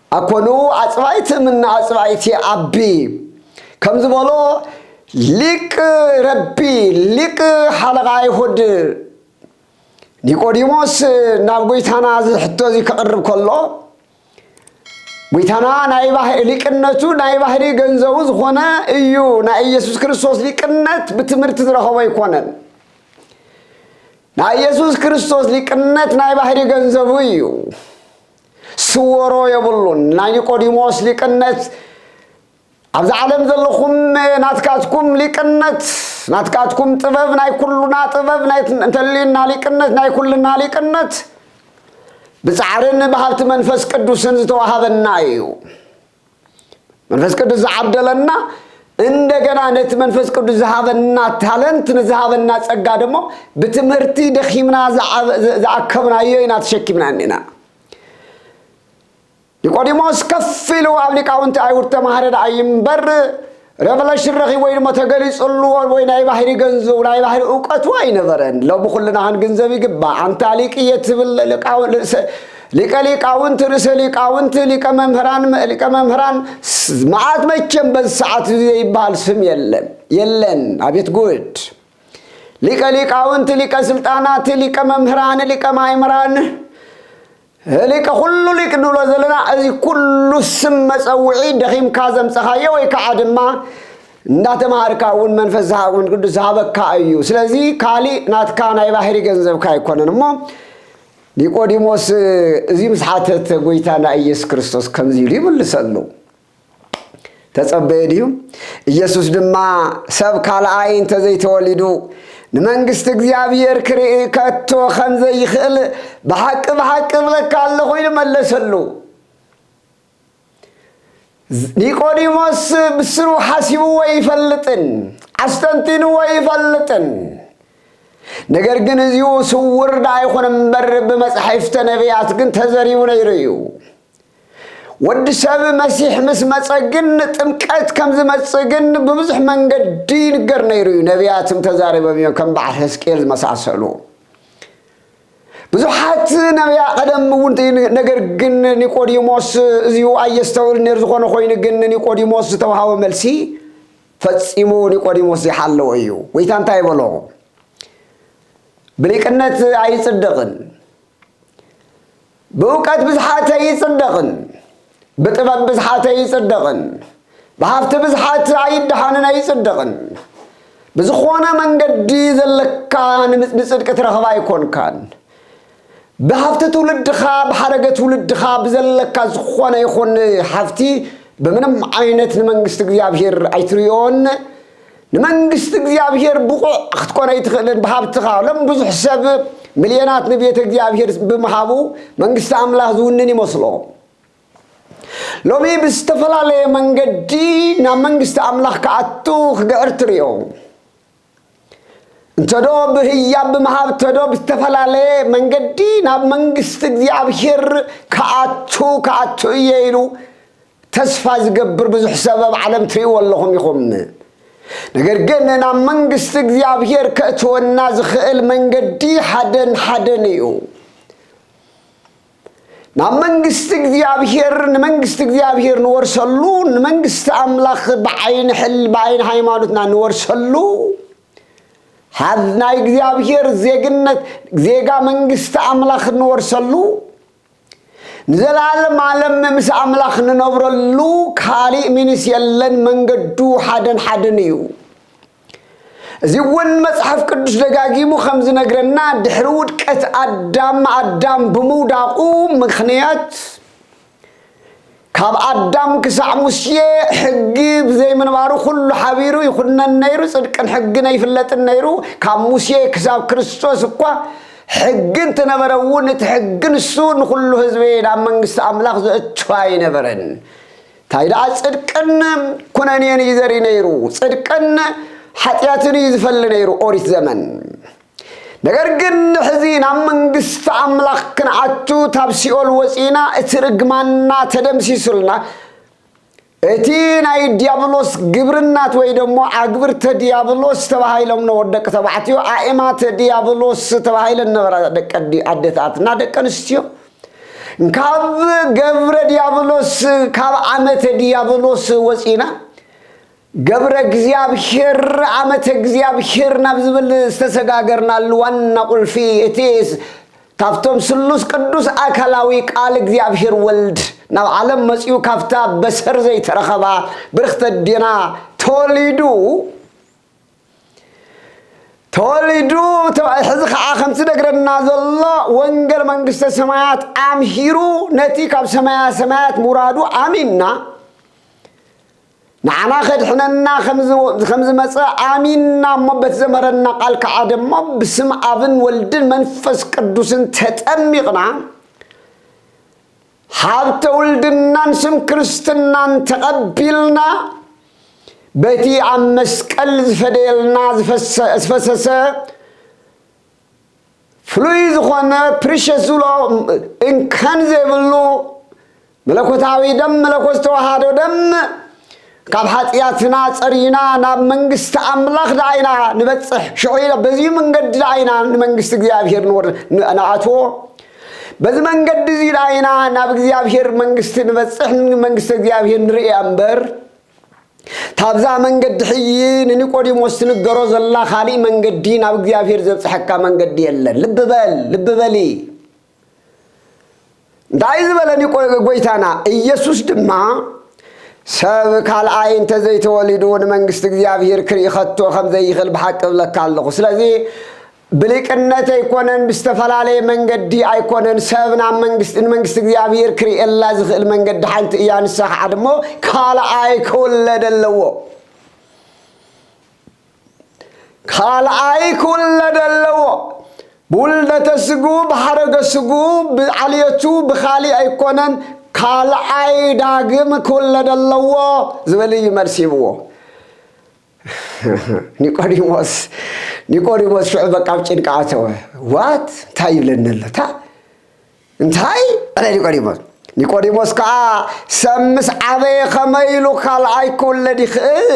ኣኮኑ ኣጽባኢት እምነ ኣጽባኢት የኣብቢ ከም ዝበሎ ሊቅ ረቢ ሊቅ ሓለቓ ኣይሁድ ኒቆዲሞስ ናብ ጐይታና እዚ ሕቶ እዚ ከቕርብ ከሎ ጐይታና ናይ ባህሪ ሊቅነቱ ናይ ባህሪ ገንዘቡ ዝኾነ እዩ ናይ ኢየሱስ ክርስቶስ ሊቅነት ብትምህርቲ ዝረኸቦ ኣይኮነን ናይ ኢየሱስ ክርስቶስ ሊቅነት ናይ ባህሪ ገንዘቡ እዩ ስወሮ የብሉን ናይ ኒቆዲሞስ ሊቅነት ኣብዚ ዓለም ዘለኹም ናትካትኩም ሊቅነት ናትካትኩም ጥበብ ናይ ኩሉና ጥበብ እንተልዩና ሊቅነት ናይ ኩልና ሊቅነት ብፃዕርን ብሃብቲ መንፈስ ቅዱስን ዝተዋሃበና እዩ መንፈስ ቅዱስ ዝዓደለና እንደገና ነቲ መንፈስ ቅዱስ ዝሃበና ታለንት ንዝሃበና ጸጋ ደሞ ብትምህርቲ ደኺምና ዝኣከብናዮ ኢና ተሸኪምና እኒና ኒቆዲሞስ ከፍ ኢሉ ኣብ ሊቃውንቲ ኣይሁድ ተማሃረ ደኣ ይምበር Revelation ረኺቡ ወይ ድማ ተገሊጹሉ ወይ ናይ ባህሪ ገንዘቡ ናይ ባህሪ እውቀቱ ኣይነበረን። ሎሚ ኩልና ክንግንዘብ ይግባእ። ኣንታ ሊቅ እየ ትብል ልቃው- ርእሰ- ሊቀ ሊቃውንት ርእሰ ሊቃውንት ሊቀ መምህራን መ- ሊቀ መምህራን ስ- መዓት መቸም በዚ ሰዓት እዚ ዘይበሃል ስም የለን የለን ኣቤት ጉድ ሊቀ ሊቃውንት ሊቀ ስልጣናት ሊቀ መምህራን ሊቀ ማእምራን ሊቅ ኩሉ ሊቅ ንብሎ ዘለና እዚ ኩሉ ስም መፀውዒ ደኺምካ ዘምፀኻዮ ወይ ከዓ ድማ እንዳተማሃርካ እውን መንፈስ ዝሃ- መንፈስ ቅዱስ ዝሃበካ እዩ ስለዚ ካሊእ ናትካ ናይ ባህሪ ገንዘብካ ኣይኮነን እሞ ኒቆዲሞስ እዚ ምስ ሓተተ ጎይታና ኢየሱስ ክርስቶስ ከምዚ ኢሉ ይምልሰሉ ተጸበየ ድዩ? ኢየሱስ ድማ ሰብ ካልኣይ እንተ ዘይተወሊዱ ንመንግስቲ እግዚኣብሔር ክርኢ ከቶ ከም ዘይኽእል ብሓቂ ብሓቂ እብለካ ኣለኹ ኢሉ መለሰሉ። ኒቆዲሞስ ብስሩ ሓሲብዎ ኣይፈልጥን፣ ኣስተንቲንዎ ኣይፈልጥን። ነገር ግን እዚኡ ስውር ዳይኹን እምበር ብመጻሕፍተ ነቢያት ግን ተዘሪቡ ነይሩ እዩ። ወዲ ሰብ መሲሕ ምስ መጸ ግን ጥምቀት ከም ዝመጽእ ግን ብብዙሕ መንገዲ ይንገር ነይሩ እዩ ነቢያትም ተዛሪቦም እዮም ከም በዓል ሕዝቅኤል ዝመሳሰሉ ብዙሓት ነቢያ ቀደም እውን ነገር ግን ኒቆዲሞስ እዚኡ ኣየስተውል ነር ዝኾነ ኮይኑ ግን ኒቆዲሞስ ዝተውሃቦ መልሲ ፈጺሙ ኒቆዲሞስ ዘይሓለዎ እዩ ጎይታ እንታይ በሎ ብሊቅነት ኣይጽደቕን ብእውቀት ብዝሓተ ይጽደቕን ብጥበብ ብዝሓተ ይጽደቕን ብሃብቲ ብዝሓት ኣይደሓንን ኣይጽደቕን ብዝኾነ መንገዲ ዘለካ ንጽድቂ ትረኽብ ኣይኮንካን ብሃብቲ ትውልድኻ ብሓረገ ትውልድኻ ብዘለካ ዝኾነ ይኹን ሃብቲ ብምንም ዓይነት ንመንግስቲ እግዚኣብሔር ኣይትርዮን ንመንግስቲ እግዚኣብሔር ብቑዕ ክትኮን ኣይትኽእልን ብሃብትኻ ሎም ብዙሕ ሰብ ምልየናት ንቤተ እግዚኣብሔር ብምሃቡ መንግስቲ ኣምላኽ ዝውንን ይመስሎ ሎሚ ብዝተፈላለየ መንገዲ ናብ መንግስቲ ኣምላኽ ክኣቱ ክግዕር ትርእዮ እንተዶ ብህያብ ብምሃብ ተዶ ብዝተፈላለየ መንገዲ ናብ መንግስቲ እግዚኣብሔር ክኣቱ ክኣቱ እየ ኢሉ ተስፋ ዝገብር ብዙሕ ሰብ ኣብ ዓለም ትሪእዎ ኣለኹም ኢኹም። ነገር ግን ናብ መንግስቲ እግዚኣብሄር ከእትወና ዝኽእል መንገዲ ሓደን ሓደን እዩ። ናብ መንግስቲ እግዚኣብሄር ንመንግስቲ እግዚኣብሄር ንወርሰሉ ንመንግስቲ ኣምላኽ ብዓይኒ ሕል ብዓይኒ ሃይማኖትና ንወርሰሉ ናይ እግዚኣብሄር ዜግነት ዜጋ መንግስቲ ኣምላኽ ንወርሰሉ ንዘለዓለም ዓለም ምስ ኣምላኽ ንነብረሉ ካልእ ሚንስ የለን መንገዱ ሓደን ሓደን እዩ እዚ እውን መጽሓፍ ቅዱስ ደጋጊሙ ከም ዝነግረና ድሕሪ ውድቀት ኣዳም ኣዳም ብምውዳቑ ምኽንያት ካብ ኣዳም ክሳዕ ሙሴ ሕጊ ብዘይምንባሩ ኩሉ ሓቢሩ ይኹነን ነይሩ፣ ጽድቅን ሕግን ኣይፍለጥን ነይሩ። ካብ ሙሴ ክሳብ ክርስቶስ እኳ ሕጊ እንትነበረ እውን እቲ ሕጊ ንሱ ንኹሉ ህዝቢ ናብ መንግስቲ ኣምላኽ ዘእቱ ኣይነበረን። እንታይ ደኣ ጽድቅን ኩነኔን እዩ ዘርኢ ነይሩ፣ ጽድቅን ሓጢኣትን እዩ ዝፈሊ ነይሩ ኦሪት ዘመን። ነገር ግን ሕዚ ናብ መንግስቲ ኣምላኽ ክንኣቱ ታብ ሲኦል ወጺእና እቲ ርግማንና ተደምሲሱልና እቲ ናይ ዲያብሎስ ግብርናት ወይ ደሞ ኣግብርተ ዲያብሎስ ተባሂሎም ነበሩ ደቂ ተባዕትዮ ኣእማተ ዲያብሎስ ተባሂለን ነበራ ደቂ ኣደታትና ደቂ ኣንስትዮ ካብ ገብረ ዲያብሎስ ካብ ዓመተ ዲያብሎስ ወፂና ገብረ እግዚኣብሔር ዓመተ እግዚኣብሔር ናብ ዝብል ዝተሰጋገርናሉ ዋና ቁልፊ እቲ ካብቶም ስሉስ ቅዱስ ኣካላዊ ቃል እግዚኣብሔር ወልድ ናብ ዓለም መፅኡ ካብታ በሰር ዘይተረኸባ ብርክተ ዴና ተወሊዱ ተወሊዱ ሕዚ ከዓ ከምቲ ነግረና ዘሎ ወንገል መንግስተ ሰማያት ኣምሂሩ ነቲ ካብ ሰማያ ሰማያት ምውራዱ ኣሚንና ንዓና ከድሕነና ከም ዝመጸ ኣሚንና እሞ በቲ ዘምሀረና ቃል ከኣ ደሞ ብስም ኣብን ወልድን መንፈስ ቅዱስን ተጠሚቕና ሃብተ ውልድናን ስም ክርስትናን ተቐቢልና በቲ ኣብ መስቀል ዝፈደየልና ዝፈሰሰ ፍሉይ ዝኾነ ፕሪሸስ ዝብሎ እንከን ዘይብሉ መለኮታዊ ደም መለኮት ዝተዋሃዶ ደም ካብ ሓጢኣትና ጸሪና ናብ መንግስቲ ኣምላኽ ደኣ ኢና ንበጽሕ ሽዑ በዚ መንገዲ ደኣ ኢና ንመንግስቲ እግዚኣብሄር ንኣትዎ በዚ መንገዲ እዚ ኢና ናብ እግዚኣብሄር መንግስቲ ንበፅሕ መንግስቲ እግዚኣብሄር ንርእያ እምበር ታብዛ መንገዲ ሕጂ ንኒቆዲሞስ ትንገሮ ዘላ ኻሊእ መንገዲ ናብ እግዚኣብሔር ዘብጽሐካ መንገዲ የለን ልቢ በል ልቢ በሊ እንታይ ዝበለ ጎይታና ኢየሱስ ድማ ሰብ ካልኣይ እንተ ዘይተወሊዱ ንመንግስቲ እግዚኣብሔር ክርኢ ኸቶ ከም ዘይኽእል ብሓቂ እብለካ ኣለኹ ስለዚ ብሊቅነት ኣይኮነን ብዝተፈላለየ መንገዲ ኣይኮነን ሰብ ናብ መንግስቲ ንመንግስቲ እግዚኣብሔር ክርእየላ ዝኽእል መንገዲ ሓንቲ እያ ንሳ ከዓ ድሞ ካልኣይ ክውለድ ኣለዎ ካልኣይ ክውለድ ኣለዎ ብውልደተ ስጉ ብሓረገ ስጉ ብዓልየቱ ብኻሊእ ኣይኮነን ካልኣይ ዳግም ክውለድ ኣለዎ ዝበል እዩ መልሲ ይብዎ ኒቆዲሞስ ኒቆዲሞስ ሽዑ በቃ ኣብ ጭንቂ ኣተወ። ዋት እንታይ ይብለኒ ኣለታ እንታይ ኣለ ኒቆዲሞስ ኒቆዲሞስ ከዓ ሰብ ምስ ዓበየ ከመይ ኢሉ ካልኣይ ክውለድ ይኽእል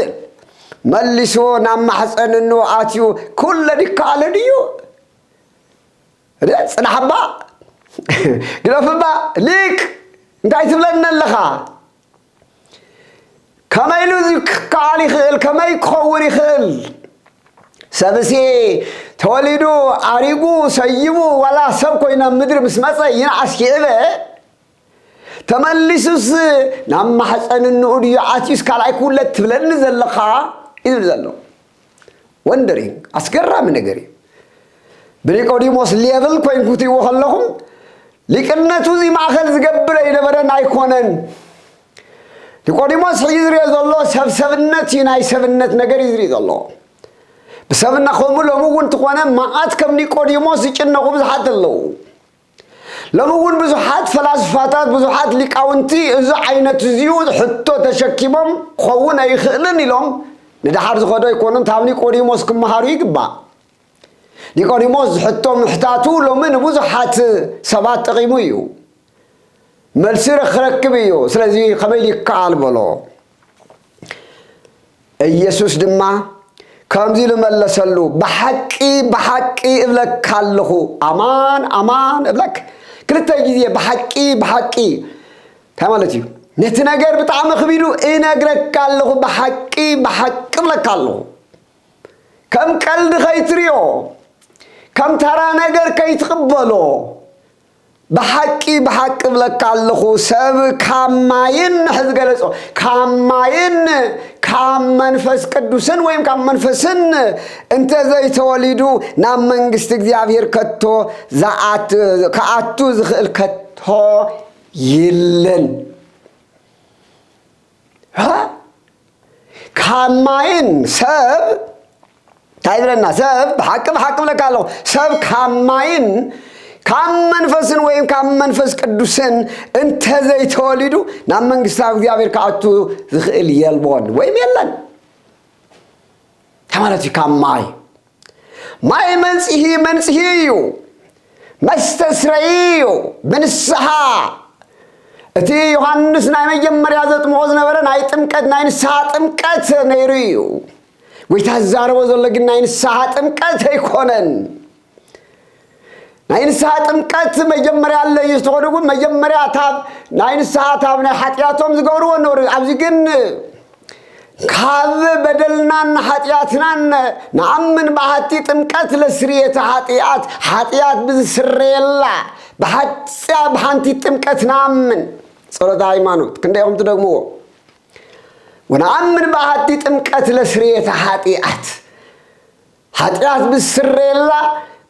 መሊሱ ናብ ማሕፀን እኖ ኣትዩ ክውለድ ይከኣልን እዩ ፅናሕባ ግደፍባ ሊቅ እንታይ ትብለኒ ኣለኻ ከመይ ኢሉ እዚ ክከኣል ይኽእል ከመይ ክኸውን ይኽእል ሰብሲ ተወሊዱ ዓሪጉ ሰይሙ ዋላ ሰብ ኮይኑ ናብ ምድሪ ምስ መፀ ይንዓስ ይዕበ ተመሊሱስ ናብ ማሕፀን እንኡ ድዩ ዓትዩስ ካልኣይ ክውለድ ትብለኒ ዘለኻ እዩ ዝብል ዘሎ ወንደሪንግ ኣስገራሚ ነገር እዩ ብኒቆዲሞስ ሌብል ኮይን ክትይዎ ከለኹም ሊቅነቱ እዚ ማእኸል ዝገብር ኣይነበረን ኣይኮነን ኒቆዲሞስ ሕጂ ዝሪኦ ዘሎ ሰብ ሰብነት እዩ ናይ ሰብነት ነገር እዩ ዝሪኦ ዘሎ ብሰብና ከምኡ ሎሚ እውን ትኾነ መዓት ከም ኒቆዲሞስ ዝጭነቑ ብዙሓት ኣለዉ ሎሚ እውን ብዙሓት ፈላስፋታት ብዙሓት ሊቃውንቲ እዚ ዓይነት እዚኡ ሕቶ ተሸኪሞም ክኸውን ኣይኽእልን ኢሎም ንደሓር ዝኸዶ ኣይኮኑን ካብ ኒቆዲሞስ ክመሃሩ ይግባእ ኒቆዲሞስ ዝሕቶ ምሕታቱ ሎሚ ንብዙሓት ሰባት ጠቒሙ እዩ መልሲ ክረክብ እዩ ስለዚ ከመይ ይከኣል በሎ ኢየሱስ ድማ ከምዚ ኢሉ መለሰሉ፣ ብሓቂ ብሓቂ እብለካ ኣለኹ፣ ኣማን ኣማን እብለክ ክልተ ግዜ ብሓቂ ብሓቂ እንታይ ማለት እዩ? ነቲ ነገር ብጣዕሚ ክቢዱ እነግረካ ኣለኹ፣ ብሓቂ ብሓቂ እብለካ ኣለኹ። ከም ቀልዲ ከይትሪኦ፣ ከም ተራ ነገር ከይትቕበሎ ብሓቂ ብሓቂ እብለካ ኣለኹ ሰብ ካብ ማይን ንሕ ዝገለጾ ካብ ማይን ካብ መንፈስ ቅዱስን ወይም ካብ መንፈስን እንተ ዘይተወሊዱ ናብ መንግስቲ እግዚኣብሔር ከቶ ክኣቱ ዝኽእል ከቶ የለን ካብ ማይን ሰብ እንታይ ይብለና ሰብ ብሓቂ ብሓቂ ብለካ ኣለኹ ሰብ ካብ ማይን ካብ መንፈስን ወይም ካብ መንፈስ ቅዱስን እንተዘይተወሊዱ ናብ መንግስቲ እግዚኣብሔር ክኣቱ ዝኽእል የልቦን ወይም የለን እንታይ ማለት እዩ ካብ ማይ ማይ መንጽሂ መንጽሂ እዩ መስተስረይ እዩ ብንስሓ እቲ ዮሃንስ ናይ መጀመርያ ዘጥምቆ ዝነበረ ናይ ጥምቀት ናይ ንስሓ ጥምቀት ነይሩ እዩ ጎይታ ዝዛረቦ ዘሎ ግን ናይ ንስሓ ጥምቀት ኣይኮነን ናይ ንስሓ ጥምቀት መጀመርያ ኣለ እዩ ዝተኾነ እውን መጀመርያ ታብ ናይ ንስሓ ታብ ናይ ሓጢኣቶም ዝገብርዎ ነበሩ ኣብዚ ግን ካብ በደልናን ሓጢኣትናን ንኣምን ብሓቲ ጥምቀት ለስርየተ ሓጢኣት ሓጢኣት ብዝስረየላ ብሓፂያ ብሓንቲ ጥምቀት ንኣምን ጸሎተ ሃይማኖት ክንደይ ኹም ትደግምዎ ወንኣምን ብሓቲ ጥምቀት ለስርየተ ሓጢኣት ሓጢኣት ብዝስረየላ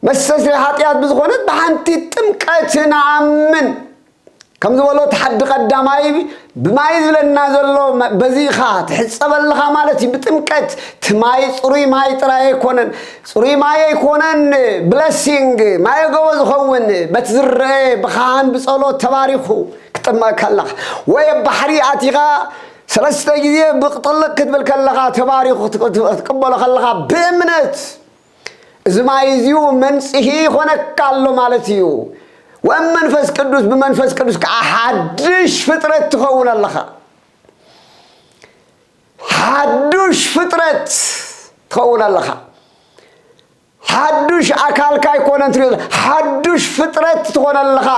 መስተስረይ ሓጢኣት ብዝኾነት ብሓንቲ ጥምቀት ንኣምን ከም ዝበሎ እቲ ሓዲ ቀዳማይ ብማይ ዝብለና ዘሎ በዚ ኢኻ ትሕፀብ ኣለኻ ማለት እዩ ብጥምቀት እቲ ማይ ፅሩይ ማይ ጥራይ ኣይኮነን ፅሩይ ማይ ኣይኮነን ብለሲንግ ማይ ገቦ ዝኸውን በቲ ዝረአ ብኻህን ብፀሎት ተባሪኹ ክጥመቀካ ኣለኻ ወይ ኣብ ባሕሪ ኣቲኻ ሰለስተ ግዜ ብቅ ጥልቅ ክትብል ከለኻ ተባሪኹ ክትቅበሎ ከለኻ ብእምነት እዚ ማይ እዚኡ መንጽሂ ይኾነካ ኣሎ ማለት እዩ ወም መንፈስ ቅዱስ ብመንፈስ ቅዱስ ከዓ ሓድሽ ፍጥረት ትኸውን ኣለኻ ሓዱሽ ፍጥረት ትኸውን ኣለኻ ሓዱሽ ኣካልካ ኣይኮነን ትሪኦ ዘ- ሓዱሽ ፍጥረት ትኾነ ኣለኻ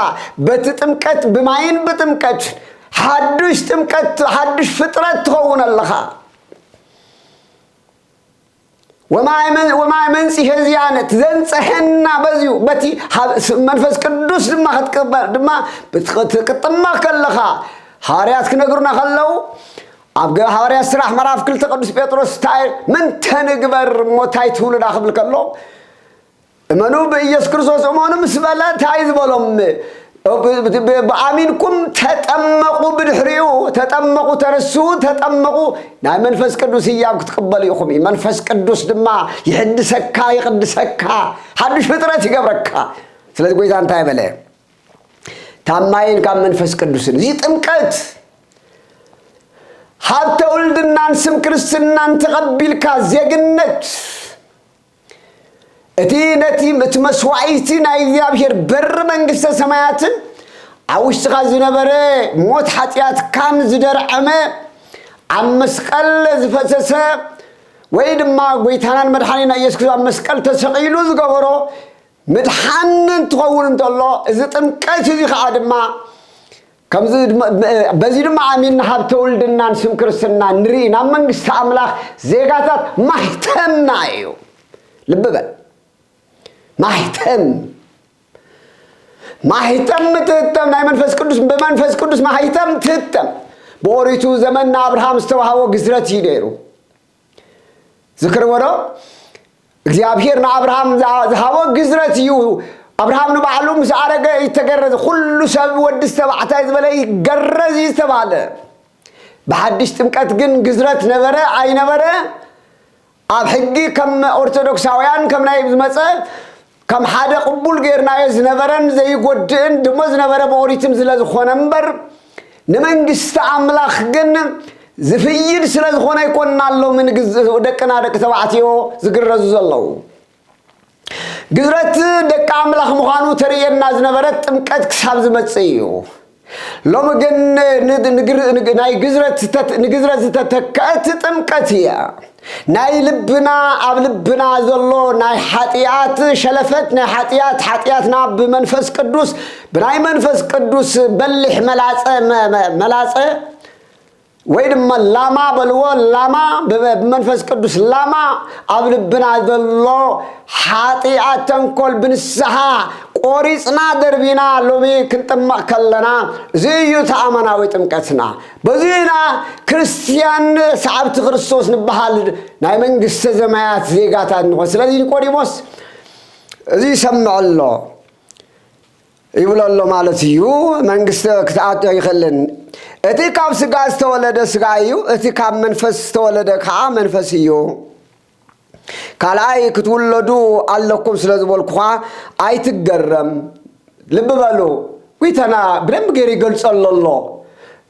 በቲ ጥምቀት ብማይን ብጥምቀት ሓዱሽ ጥምቀት ሓዱሽ ፍጥረት ትኸውን ኣለኻ ወማይ መን- ወማይ መንጽሔ ዚኣነ ዘንጸሐና በዚዩ በቲ ሀብ- ስ- መንፈስ ቅዱስ ድማ ክትቅበል ድማ ብት- ክትጥመቕ ከለኻ ሃዋርያት ክነግሩና ከለዉ ኣብ ግብሪ ሃዋርያት ስራሕ ምዕራፍ ክልተ ቅዱስ ጴጥሮስ ታይ ምንተ ንግበር እሞ ታይ ትብሉና ክብል ከሎ እመኑ ብኢየሱስ ክርስቶስ እመኑ ምስ በለ እንታይ ዝበሎም ብኣሚንኩም ተጠመቑ ብድሕሪኡ ተጠመቑ ተነሱ ተጠመቑ ናይ መንፈስ ቅዱስ እያም ክትቅበሉ ኢኹም እዩ መንፈስ ቅዱስ ድማ ይሕድሰካ ይቕድሰካ ሓዱሽ ፍጥረት ይገብረካ ስለዚ ጎይታ እንታይ በለ ካብ ማይን ካብ መንፈስ ቅዱስን እዚ ጥምቀት ሃብተ ውልድናን ስም ክርስትናን ተቐቢልካ ዜግነት እቲ ነቲ እቲ መስዋዕቲ ናይ እግዚኣብሔር በሪ መንግስተ ሰማያትን ኣብ ውሽጥኻ ዝነበረ ሞት ሓጢኣትካን ዝደርዐመ ኣብ መስቀል ዝፈሰሰ ወይ ድማ ጎይታናን መድሓኒና ኢየሱስ ክርስቶስ ኣብ መስቀል ተሰቒሉ ዝገበሮ ምድሓን እንትኸውን እንተሎ እዚ ጥምቀት እዚ ኸዓ ድማ በዚ ድማ ኣሚንና ሃብተ ውልድናን ስም ክርስትናን ንርኢ ናብ መንግስቲ ኣምላኽ ዜጋታት ማሕተምና እዩ ልቢ በል ማሕተም ማሕተም ትህተም ናይ መንፈስ ቅዱስ ብመንፈስ ቅዱስ ማሕተም ትህተም ብኦሪቱ ዘመን ንኣብርሃም ዝተዋሃቦ ግዝረት እዩ ነይሩ ዝክርዎ ዶ እግዚኣብሄር ንኣብርሃም ዝሃቦ ግዝረት እዩ ኣብርሃም ንባዕሉ ምስ ኣረገ እዩ ተገረዘ ኩሉ ሰብ ወዲ ዝተባዕታይ ዝበለ ይገረዝ እዩ ዝተባሃለ ብሓድሽ ጥምቀት ግን ግዝረት ነበረ ኣይነበረ ኣብ ሕጊ ከም ኦርቶዶክሳውያን ከም ናይ ዝመፀ ከም ሓደ ቅቡል ጌርናዮ ዝነበረን ዘይጎድእን ድሞ ዝነበረ ብኦሪትም ዝለ ዝኾነ እምበር ንመንግስቲ ኣምላኽ ግን ዝፍይድ ስለ ዝኾነ ኣይኮንና ኣሎምን ደቅና ደቂ ተባዕትዮ ዝግረዙ ዘለዉ ግዝረት ደቂ ኣምላኽ ምዃኑ ተርእየና ዝነበረት ጥምቀት ክሳብ ዝመጽእ እዩ ሎሚ ግን ናይ ግዝረት ዝተተከአት ጥምቀት እያ። ናይ ልብና ኣብ ልብና ዘሎ ናይ ሓጢኣት ሸለፈት ናይ ሓጢኣት ሓጢኣትና ብመንፈስ ቅዱስ ብናይ መንፈስ ቅዱስ በሊሕ መላፀ መላፀ ወይ ድማ ላማ በልዎ ላማ ብመንፈስ ቅዱስ ላማ ኣብ ልብና ዘሎ ሓጢኣት ተንኮል ብንስሓ ቆሪፅና ደርቢና ሎሚ ክንጥመቕ ከለና እዚ እዩ ተኣመናዊ ጥምቀትና በዚ ኢና ክርስትያን ሰዓብቲ ክርስቶስ ንበሃል ናይ መንግስተ ዘማያት ዜጋታት ንኾን ስለዚ ኒቆዲሞስ እዚ ይሰምዕ ኣሎ ይብሎ ኣሎ ማለት እዩ። መንግስቲ ክትኣቶ ኣይኸልን። እቲ ካብ ስጋ ዝተወለደ ስጋ እዩ፣ እቲ ካብ መንፈስ ዝተወለደ ከዓ መንፈስ እዩ። ካልኣይ ክትውለዱ ኣለኩም ስለ ዝበልኩኻ ኣይትገረም። ልቢ በሉ፣ ጒይታና ብደንቢ ገይሩ ይገልጸሎ ኣሎ፣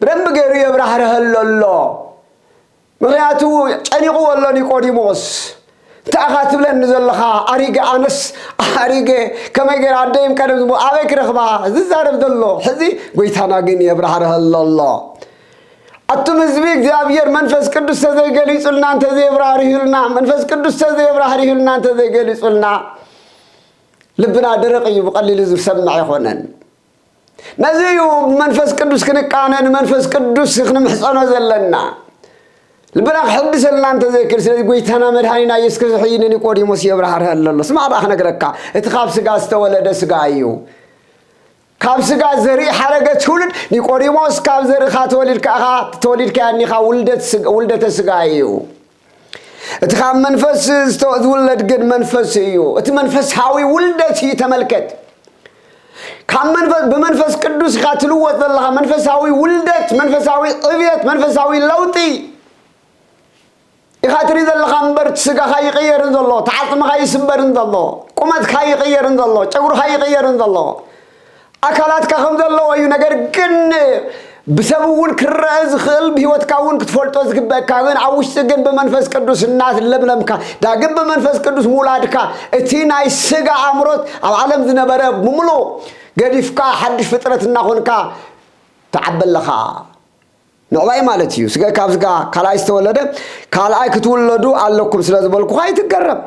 ብደንቢ ገይሩ የብራህርሀሎ ኣሎ። ምኽንያቱ ጨኒቕዎ ኣሎ ኒቆዲሞስ። እንታይ ኢኻ ትብለኒ ዘለኻ ኣሪገ ኣነስ ኣሪገ ከመይ ገይረ ኣደይም ቀደም ዝሞ ኣበይ ክረኽባ ዝዛረብ ዘሎ ሕዚ ጎይታና ግን የብራህርሀሎ ኣሎ ኣቱም ህዝቢ እግዚኣብሔር መንፈስ ቅዱስ ተዘይገሊጹልና እንተዘየብራህርህልና መንፈስ ቅዱስ ተዘየብራህርህልና እንተዘይገሊጹልና ልብና ደረቕ እዩ ብቐሊሉ ዝሰምዕ ኣይኮነን ነዚ እዩ ብመንፈስ ቅዱስ ክንቃነ ንመንፈስ ቅዱስ ክንምሕፀኖ ዘለና ልብና ክሕድሰልና እንተዘይክእል ስለዚ ጎይታና መድሃኒና ኢየሱስ ክርስቶስ ሕጂ ንኒቆዲሞስ የብራህርሀሉ ኣሎ ስማዕ ደኣ ክነግረካ እቲ ካብ ስጋ ዝተወለደ ስጋ እዩ ካብ ስጋ ዘርኢ ሓረገ ትውልድ ኒቆዲሞስ ካብ ዘርእኻ ተወሊድካ ኢኻ ተወሊድካ እኒኻ ውልደተ ስጋ እዩ እቲ ካብ መንፈስ ዝተ- ዝውለድ ግን መንፈስ እዩ እቲ መንፈሳዊ ውልደት እዩ ተመልከት ካብ መንፈስ ብመንፈስ ቅዱስ ኢኻ ትልወጥ ዘለኻ መንፈሳዊ ውልደት መንፈሳዊ ዕብየት መንፈሳዊ ለውጢ ኢኻ ትርኢ ዘለኻ እምበር እቲ ስጋኻ ይቕየርን ዘሎ ተዓፅምኻ ይስበርን ዘሎ ቁመትካ ይቕየርን ዘሎ ጨጉርኻ ይቕየርን ዘሎ ኣካላትካ ከም ዘለዎ እዩ ነገር ግን ብሰብ እውን ክረአ ዝኽእል ብህይወትካ እውን ክትፈልጦ ዝግበእካ ግን ኣብ ውሽጢ ግን ብመንፈስ ቅዱስ እናለምለምካ ዳግም ብመንፈስ ቅዱስ ምውላድካ እቲ ናይ ስጋ ኣእምሮት ኣብ ዓለም ዝነበረ ብምሉእ ገዲፍካ ሓድሽ ፍጥረት እናኾንካ ትዓቢ ኣለኻ ምዕባይ ማለት እዩ ስጋ ካብ ስጋ ካልኣይ ዝተወለደ ካልኣይ ክትውለዱ ኣለኩም ስለ ዝበልኩኻ ኣይትገረም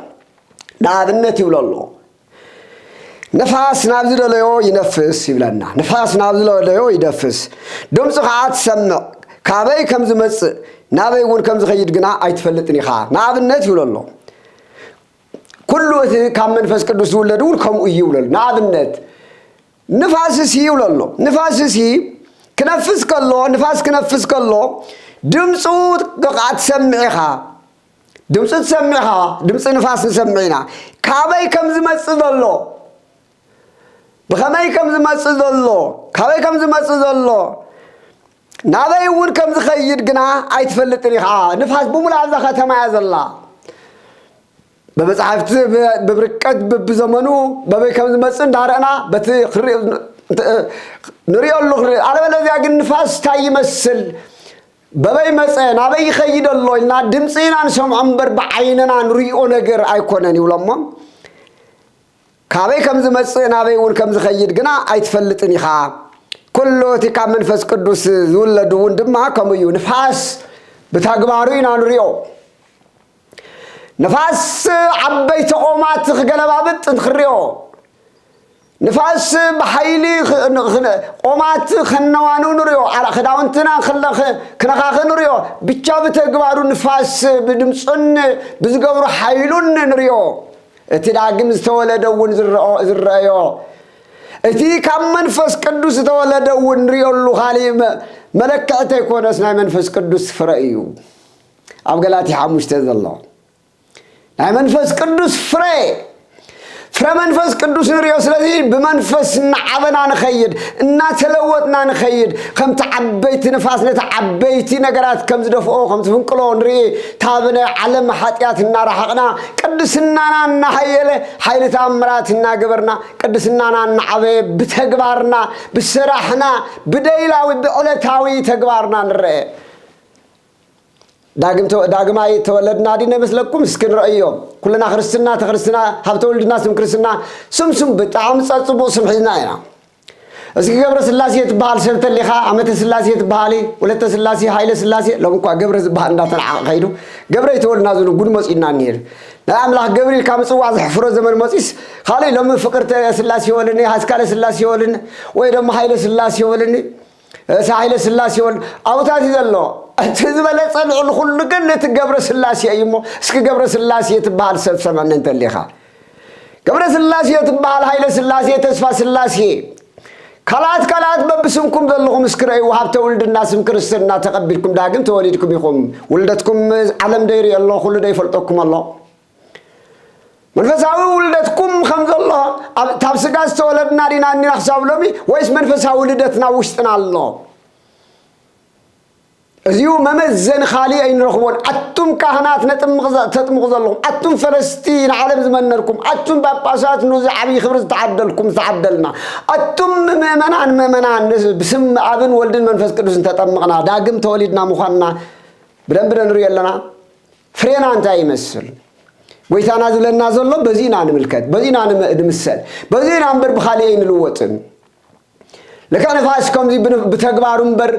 ንኣብነት ይብሎ ኣሎ ንፋስ ናብ ዝደለዮ ይነፍስ ይብለና ንፋስ ናብ ዝደለዮ ይደፍስ ድምፁ ከዓ ትሰምዕ ካበይ ከም ዝመፅእ ናበይ እውን ከም ዝኸይድ ግና ኣይትፈልጥን ኢኻ ንኣብነት ይብሎ ኣሎ ኩሉ እቲ ካብ መንፈስ ቅዱስ ዝውለድ እውን ከምኡ እዩ ይብሎ ኣሎ ንኣብነት ንፋስ እሲ ይብሎ ኣሎ ንፋስ እሲ ክነፍስ ከሎ ንፋስ ክነፍስ ከሎ ድምፁ ብቃ ትሰምዕ ኢኻ ድምፂ ትሰምዕ ኸዓ ድምፂ ንፋስ ንሰምዕ ኢና ካበይ ከም ዝመፅእ ዘሎ ብኸመይ ከም ዝመፅእ ዘሎ ካበይ ከም ዝመፅእ ዘሎ ናበይ እውን ከም ዝኸይድ ግና ኣይትፈልጥን ኢኻ ንፋስ ብምሉእ ኣብዛ ከተማ እያ ዘላ ብመፅሓፍቲ ብብርቀት ብብዘመኑ በበይ ከም ዝመፅእ እንዳረእና በቲ ንሪኦሉ ክንርኢ ኣለበለዚያ ግን ንፋስ እንታይ ይመስል በበይ መጸ ናበይ ይኸይድ ኣሎ ኢልና ድምፂ ኢና ንሰምዖ እምበር ብዓይንና ንሪኦ ነገር ኣይኮነን ይብሎሞ ካበይ ከም ዝመጽእ ናበይ እውን ከም ዝኸይድ ግና ኣይትፈልጥን ኢኻ ኩሉ እቲ ካብ መንፈስ ቅዱስ ዝውለድ እውን ድማ ከምኡ እዩ ንፋስ ብተግባሩ ኢና ንሪኦ ንፋስ ዓበይቲ ኦማት ክገለባብጥ እንትክርዮ ንፋስ ብሓይሊ ኦማት ከነዋኑ ንርዮ ክዳውንትና ክነኻኽ ንርዮ ብቻ ብተግባሩ ንፋስ ብድምፁን ብዝገብሩ ሓይሉን ንርዮ እቲ ዳግም ዝተወለደ እውን ዝረአዮ እቲ ካብ መንፈስ ቅዱስ ዝተወለደ እውን ንሪኦሉ ካሊእ መለክዕቲ ኣይኮነስ ናይ መንፈስ ቅዱስ ፍረ እዩ ኣብ ገላትያ ሓሙሽተ ዘሎ ናይ መንፈስ ቅዱስ ፍረ ፍረ መንፈስ ቅዱስ ንሪኦ ስለዚ ብመንፈስ እናዓበና ንኸይድ እናተለወጥና ንኸይድ ከምቲ ዓበይቲ ንፋስ ነቲ ዓበይቲ ነገራት ከም ዝደፍኦ ከም ዝፍንቅሎ ንርኢ ካብ ናይ ዓለም ሓጢኣት እናረሓቕና ቅድስናና እናሃየለ ሓይሊ ተኣምራት እናገበርና ቅድስናና እናዓበየ ብተግባርና ብስራሕና ብደይላዊ ብዕለታዊ ተግባርና ንረአ ዳግማይ ተወለድና ዲነ መስለኩም እስኪ ንረእዮ ኩልና ክርስትና ተክርስትና ሃብተ ውልድና ስም ክርስትና ስም ስም ብጣዕሚ ፀፅቡቅ ስም ሒዝና ኢና እስኪ ገብረ ስላሴ ትበሃል ሰብ ተሊኻ ዓመተ ስላሴ ትበሃሊ ወለተ ስላሴ ሃይለ ስላሴ ሎም እኳ ገብረ ዝበሃል እንዳተናዓቐ ከይዱ ገብረ ይተወልና ዝኑ ጉድ መፂኡና እኒሄ ናይ ኣምላኽ ገብሪ ኢልካ ምፅዋዕ ዘሕፍሮ ዘመን መፂስ ካልእ ሎሚ ፍቅርተ ስላሴ ወልኒ ሃስካለ ስላሴ ወልኒ ወይ ደሞ ሃይለ ስላሴ ወልኒ ርእሰ ኃይለ ሥላሴ ወልድ ኣብታት እዩ ዘሎ እቲ ዝበለጸ ልዕሊ ኩሉ ግን እቲ ገብረ ሥላሴ እዩ እሞ እስኪ ገብረ ሥላሴ ትበሃል ሰብ ሰመኒ እንተሊኻ ገብረ ሥላሴ ትበሃል ኃይለ ሥላሴ ተስፋ ሥላሴ ካልኣት ካልኣት በብስምኩም ዘለኹም እስኪ ረእይዎ ሃብተ ውልድና ስም ክርስትና ተቐቢልኩም ዳግም ተወሊድኩም ኢኹም ውልደትኩም ዓለም ደይሪኦ ኣሎ ኩሉ ደይፈልጠኩም ኣሎ መንፈሳዊ ውልደትኩም ከም ዘሎ ኣብ- ካብ ስጋ ዝተወለድና ዲና እኒና ክሳብ ሎሚ ወይስ መንፈሳዊ ልደትና ኣብ ውሽጥና ኣሎ እዚኡ መመዘኒ ካሊእ ኣይንረኽቦን ኣቱም ካህናት ነጥምቕ ዘ- ተጥምቑ ዘለኹም ኣቱም ፈለስቲ ንዓለም ዝመነርኩም ኣቱም ጳጳሳት ንዚ ዓብዪ ክብሪ ዝተዓደልኩም ዝተዓደልና ኣቱም ምእመናን ምእመናን ብስም ኣብን ወልድን መንፈስ ቅዱስን ተጠምቕና ዳግም ተወሊድና ምዃንና ብደንቢ ነንሪኦ ኣለና ፍሬና እንታይ ይመስል? ጐይታና ዝብለና ዘሎ በዚ ኢና ንምልከት፣ በዚ ኢና ንምሰል፣ በዚ ኢና እምበር ብኻልእ ኣይንልወጥን። ልክዕ ንፋስ ከምዚ ብተግባሩ እምበር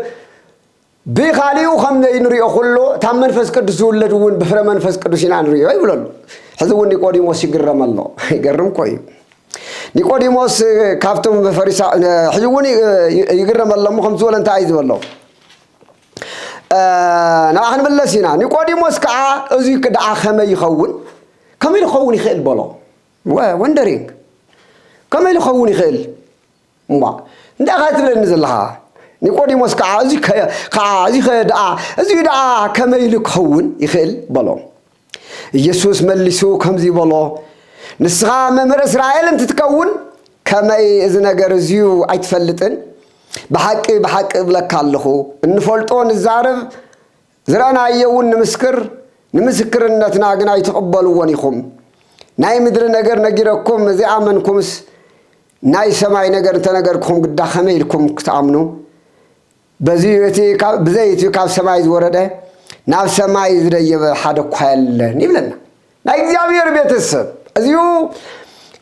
ብኻሊኡ ከም ዘይንሪኦ ኩሉ ታብ መንፈስ ቅዱስ ዝውለድ እውን ብፍረ መንፈስ ቅዱስ ኢና ንሪኦ ይብለሉ ሕዚ እውን ኒቆዲሞስ ይግረም ኣሎ ይገርም ኮ እዩ ኒቆዲሞስ ካብቶም ፈሪሳ ሕዚ እውን ይግረም ኣሎ እሞ ከምዚ ዝበለ እንታይ እዩ ዝበሎ ናብኣ ክንምለስ ኢና ኒቆዲሞስ ከዓ እዙይ ክድዓ ከመይ ይኸውን ከመይ ልኸውን ይኽእል በሎ ወንደሪንግ ከመይ ልኸውን ይኽእል እሞ እንታይ ኸ ትብለኒ ዘለኻ ኒቆዲሞስ ከዓ እዚ ከዓ እዚ ኸ ደኣ እዚ ደኣ ከመይ ኢሉ ክኸውን ይኽእል በሎ ኢየሱስ መሊሱ ከምዚ በሎ፣ ንስኻ መምህር እስራኤል እንትትከውን ከመይ እዚ ነገር እዚዩ ኣይትፈልጥን? ብሓቂ ብሓቂ እብለካ ኣለኹ፣ እንፈልጦ ንዛረብ፣ ዝረእናዮውን ንምስክር፣ ንምስክርነትና ግን ኣይትቕበልዎን ኢኹም። ናይ ምድሪ ነገር ነጊረኩም ዘይኣመንኩምስ ናይ ሰማይ ነገር እንተነገርኩኹም ግዳ ከመይ ኢልኩም ክትኣምኑ? በዚ እዩ እቲ ካብ ብዘይ እቲ ካብ ሰማይ ዝወረደ ናብ ሰማይ ዝደየበ ሓደ እኳ የለን ይብለና ናይ እግዚኣብሔር ቤተሰብ እዚኡ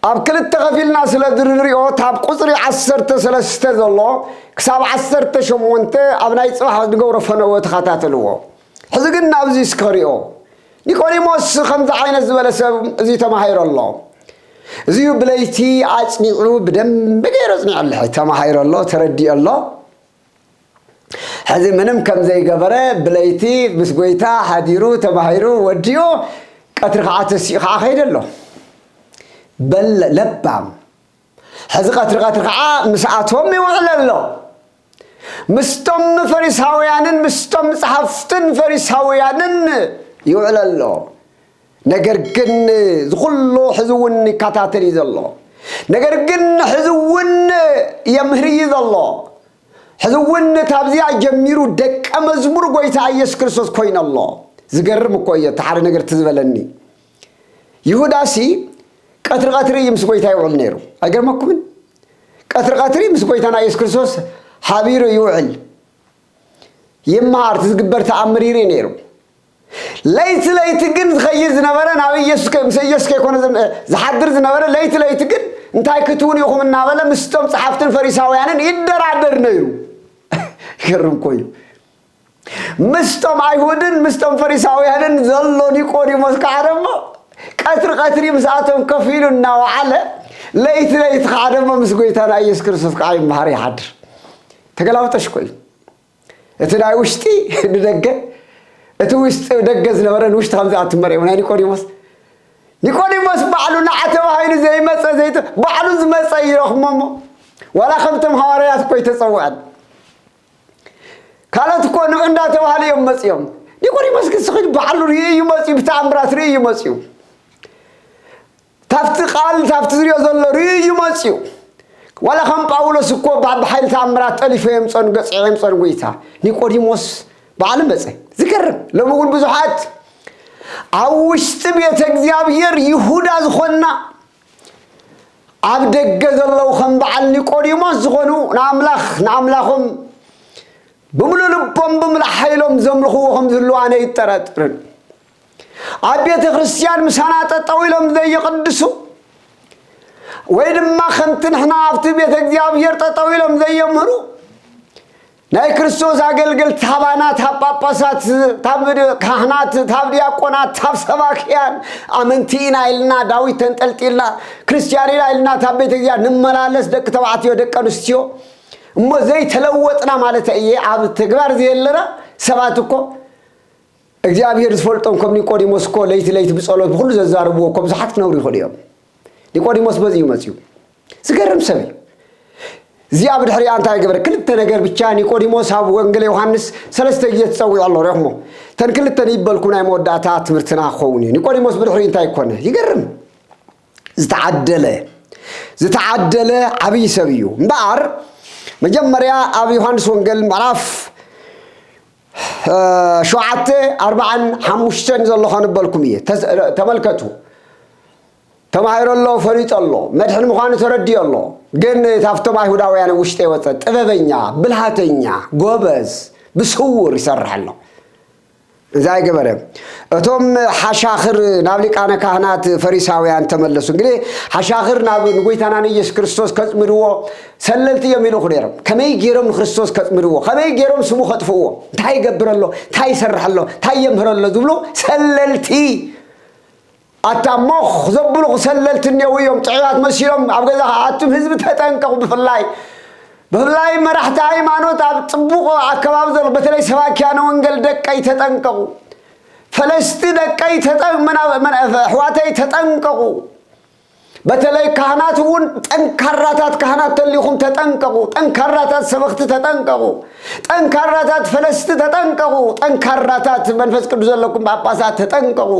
ኣብ ክልተ ከፊልና ስለ ዝንሪኦ ታብ ቁፅሪ ዓሰርተ ሰለስተ ዘሎ ክሳብ ዓሰርተ ሸሞንተ ኣብ ናይ ፅባሕ ዝገብሮ ፈነወ ተኸታተልዎ ሕዚ ግን ናብዚ እስከሪኦ ኒቆዲሞስ ከምዚ ዓይነት ዝበለ ሰብ እዚ ተማሂሮ ኣሎ እዚዩ ብለይቲ ኣፅኒዑ ብደንቢ ገይሩ ኣፅኒዑ ኣሎ ተማሂሮ ኣሎ ተረዲኦ ኣሎ ሕዚ ምንም ከም ዘይገበረ ብለይቲ ምስ ጎይታ ሓዲሩ ተማሂሩ ወዲኡ ቀትሪ ከዓ ተሲኡ ከዓ ከይደ ኣሎ በል ለባም ሕዚ ቀትሪ ቀትሪ ከዓ ምስኣቶም ይውዕል ኣሎ ምስቶም ፈሪሳውያንን ምስቶም ጸሓፍትን ፈሪሳውያንን ይውዕል ኣሎ ነገር ግን ዝኹሉ ሕዚ እውን ይከታተል እዩ ዘሎ ነገር ግን ሕዚ እውን የምህር እዩ ዘሎ ሕዚ እውን ካብዚኣ ጀሚሩ ደቀ መዝሙር ጎይታ ኢየሱስ ክርስቶስ ኮይነ ኣሎ ዝገርም እኮ እየ ተሓደ ነገር ትዝበለኒ ይሁዳ ሲ ቀትሪ ቀትሪ እዩ ምስ ጎይታ ይውዕል ነይሩ ኣይገርመኩምን ቀትሪ ቀትሪ ምስ ጎይታና ኢየሱስ ክርስቶስ ሓቢሩ ይውዕል ይመሃር እቲ ዝግበር ተኣምር ይርኢ ነይሩ ለይቲ ለይቲ ግን ዝኸይድ ዝነበረ ናብ ኢየሱስ ምስ ኢየሱስ ከይኮነ ዝሓድር ዝነበረ ለይቲ ለይቲ ግን እንታይ ክትውን ኢኹም እናበለ ምስቶም ጸሓፍትን ፈሪሳውያንን ይደራደር ነይሩ ይገርም ኮዩ ምስቶም ኣይሁድን ምስቶም ፈሪሳውያንን ዘሎ ኒቆዲሞስ ከዓ ደሞ ቀትሪ ቀትሪ ምስኣቶም ከፍ ኢሉ እናወዓለ ለይቲ ለይቲ ከዓ ደሞ ምስ ጎይታና ኢየሱስ ክርስቶስ ከዓ ይመሃር ይሓድር ተገላብጠሽ ኮዩ እቲ ናይ ውሽጢ ንደገ እቲ ውሽጢ ደገ ዝነበረ ንውሽጢ ከምዚ ኣትመርዮ ናይ ኒቆዲሞስ ኒቆዲሞስ ባዕሉ ንዓ ተባሂሉ ዘይመፀ ዘይተ ባዕሉ ዝመፀ እዩ ረኽሞ እሞ ዋላ ከምቶም ሃዋርያት እኮ ይተፀውዐን ካልኦት እኮ ንዑ እንዳተባሃሉ እዮም መፅኦም ኒቆዲሞስ ግን ስኺድ ባዕሉ ርእዩ እዩ መፅኡ ብተኣምራት ርእዩ እዩ መፅኡ ካብቲ ቃል ካብቲ ዝሪኦ ዘሎ ርእዩ እዩ መጺኡ ዋላ ከም ጳውሎስ እኮ ብ ሓይሊ ተኣምራት ጠሊፈ የምጸን ገጽዔ የምጸን ጎይታ ኒቆዲሞስ በዓሉ መጸ ዝገርም ሎሚ እውን ብዙሓት ኣብ ውሽጢ ቤተ እግዚኣብሔር ይሁዳ ዝኾንና ኣብ ደገ ዘለዉ ከም በዓል ኒቆዲሞስ ዝኾኑ ንኣምላኽ ንኣምላኾም ብምሉእ ልቦም ብምሉእ ሓይሎም ዘምልኽዎ ከም ዝህልው ኣነ ይጠራጥርን ኣብ ቤተ ክርስቲያን ምሳና ጠጠው ኢሎም ዘየቕድሱ ወይ ድማ ከምቲ ንሕና ኣብቲ ቤተ እግዚኣብሔር ጠጠው ኢሎም ዘየምህሩ ናይ ክርስቶስ ኣገልገልቲ ታባናት ኣብ ጳጳሳት ታብ ካህናት ታብ ዲያቆናት ታብ ሰባክያን ኣመንቲ ኢና ኢልና ዳዊት ተንጠልጢልና ክርስቲያን ኢና ኢልና ታብ ቤተ እግዚኣብሔር ንመላለስ ደቂ ተባዕትዮ ደቂ ኣንስትዮ እሞ ዘይተለወጥና ማለት እየ ኣብ ተግባር ዘየለና ሰባት እኮ እግዚኣብሄር ዝፈልጦም ከም ኒቆዲሞስ እኮ ለይቲ ለይቲ ብጸሎት ብኹሉ ዘዛርብዎ እኮ ብዙሓት ክነብሩ ይኽእሉ እዮም። ኒቆዲሞስ በዚ እዩ መጺኡ። ዝገርም ሰብ እዩ። እዚኣ ብድሕሪኣ እንታይ ገበረ? ክልተ ነገር ብቻ ኒቆዲሞስ ኣብ ወንጌል ዮሃንስ ሰለስተ ግዜ ትጸዊዑ ኣሎ ሪኹሞ ተን ክልተ ንይበልኩ ናይ መወዳእታ ትምህርትና ክኸውን እዩ። ኒቆዲሞስ ብድሕሪ እንታይ ኮነ? ይገርም ዝተዓደለ ዝተዓደለ ዓብዪ ሰብ እዩ እምበኣር መጀመርያ ኣብ ዮሃንስ ወንጌል ምዕራፍ ሸውዓተ ኣርባዓን ሓሙሽተን ዘሎ ከንበልኩም እየ ተመልከቱ ተማሂሮ ኣሎ ፈሊጦ ኣሎ መድሕን ምዃኑ ተረዲኦ ኣሎ ግን ካብቶም ኣይሁዳውያን ውሽጢ ወፀ ጥበበኛ ብልሃተኛ ጎበዝ ብስውር ይሰርሕ ኣሎ እዛ ገበረ እቶም ሓሻኽር ናብ ሊቃነ ካህናት ፈሪሳውያን ተመለሱ እንግዲህ ሓሻኽር ናብ ንጎይታና ንኢየሱስ ክርስቶስ ከፅምድዎ ሰለልቲ እዮም ይልእኹ ነይሮም። ከመይ ገይሮም ንክርስቶስ ከጽምድዎ፣ ከመይ ገይሮም ስሙ ከጥፍእዎ፣ እንታይ ይገብር ኣሎ፣ እንታይ ይሰርሕ ኣሎ፣ እንታይ የምህር ኣሎ ዝብሉ ሰለልቲ ኣታ ሞኽ ዘብልኹ ሰለልቲ እኔዉ እዮም። ጥዑያት መሲሎም ኣብ ገዛ ኣቱም ህዝቢ ተጠንቀቑ። ብፍላይ ብፍላይ መራሕቲ ሃይማኖት ኣብ ጽቡቕ ኣከባቢ ዘሎ በተለይ ሰባኪያነ ወንገል ደቀይ ተጠንቀቑ። ፈለስቲ ደቀይ ተጠ- መና- መና- ኣሕዋተይ ተጠንቀቑ። በተለይ ካህናት እውን ጠንካራታት ካህናት ተሊኹም ተጠንቀቑ፣ ጠንካራታት ሰበኽቲ ተጠንቀቑ፣ ጠንካራታት ፈለስቲ ተጠንቀቑ፣ ጠንካራታት መንፈስ ቅዱስ ዘለኩም ጳጳሳት ተጠንቀቑ።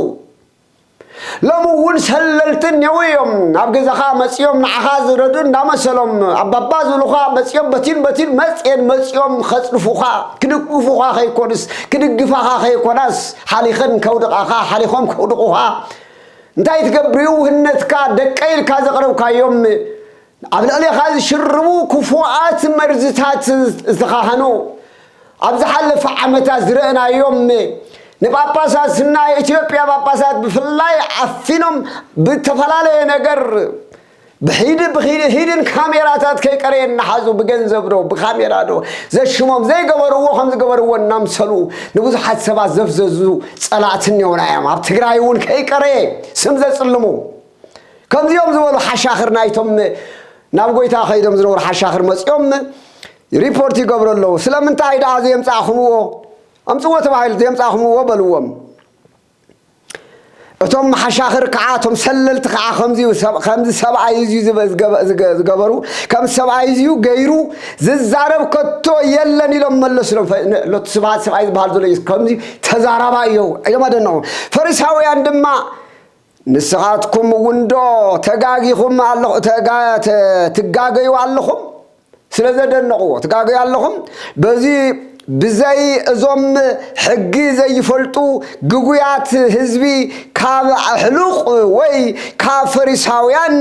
ሎሚ እውን ሰለልቲ እኔው እዮም ኣብ ገዛኻ መፂኦም ንዓኻ ዝረዱ እንዳመሰሎም ኣባባ ዝብሉኻ መፂኦም በቲን በቲን መፅኤን መፂኦም ከፅድፉኻ ክድግፉኻ ከይኮንስ ክድግፋኻ ከይኮናስ ሓሊኸን ከውድቓኻ ሓሊኾም ከውድቑኻ እንታይ ትገብሪ ውህነትካ ደቀይ ኢልካ ዘቕረብካዮም ኣብ ልዕሌኻ ዝሽርቡ ክፉኣት መርዝታት ዝተኻህኑ ኣብ ዝሓለፈ ዓመታት ዝረእናዮም ንጳጳሳት ናይ ኢትዮጵያ ጳጳሳት ብፍላይ ዓፊኖም ብተፈላለየ ነገር ብሒድ ብሒድን ካሜራታት ከይቀረየ እናሓዙ ብገንዘብ ዶ ብካሜራ ዶ ዘሽሞም ዘይገበርዎ ከም ዝገበርዎ እናምሰሉ ንብዙሓት ሰባት ዘፍዘዙ ጸላእቲ እኒኦና እዮም ኣብ ትግራይ እውን ከይቀረየ ስም ዘጽልሙ ከምዚኦም ዝበሉ ሓሻኽር ናይቶም ናብ ጎይታ ከይዶም ዝነበሩ ሓሻኽር መፂኦም ሪፖርት ይገብሩ ኣለዉ ስለምንታይ ደኣ ዘየምፃእኹምዎ ኣምፅዎ ተባሂሉ ዘየምፃእኹምዎ በልዎም እቶም መሓሻኽር ከዓ እቶም ሰለልቲ ከዓ ከምዚ ሰብ- ከምዚ ሰብኣይ እዝዩ ዝገ- ዝገ- ዝገ- ዝገበሩ ከም ሰብኣይ እዝዩ ገይሩ ዝዛረብ ከቶ የለን ኢሎም መለስሎም ፈ- ን- ሎቱ ስብሃት ሰብኣይ ዝበሃል ዘሎ ኢየሱስ ከምዚ ተዛራባ እዩ እዮም ኣደነቑ ፈሪሳውያን ድማ ንስኻትኩም እውን ዶ ተጋጊኹም ኣለኹ ተጋ- ተ- ትጋገዩ ኣለኹም ስለ ዘደነቕዎ ትጋገዩ ኣለኹም በዚ ብዘይ እዞም ሕጊ ዘይፈልጡ ግጉያት ህዝቢ ካብ ኣሕሉቕ ወይ ካብ ፈሪሳውያን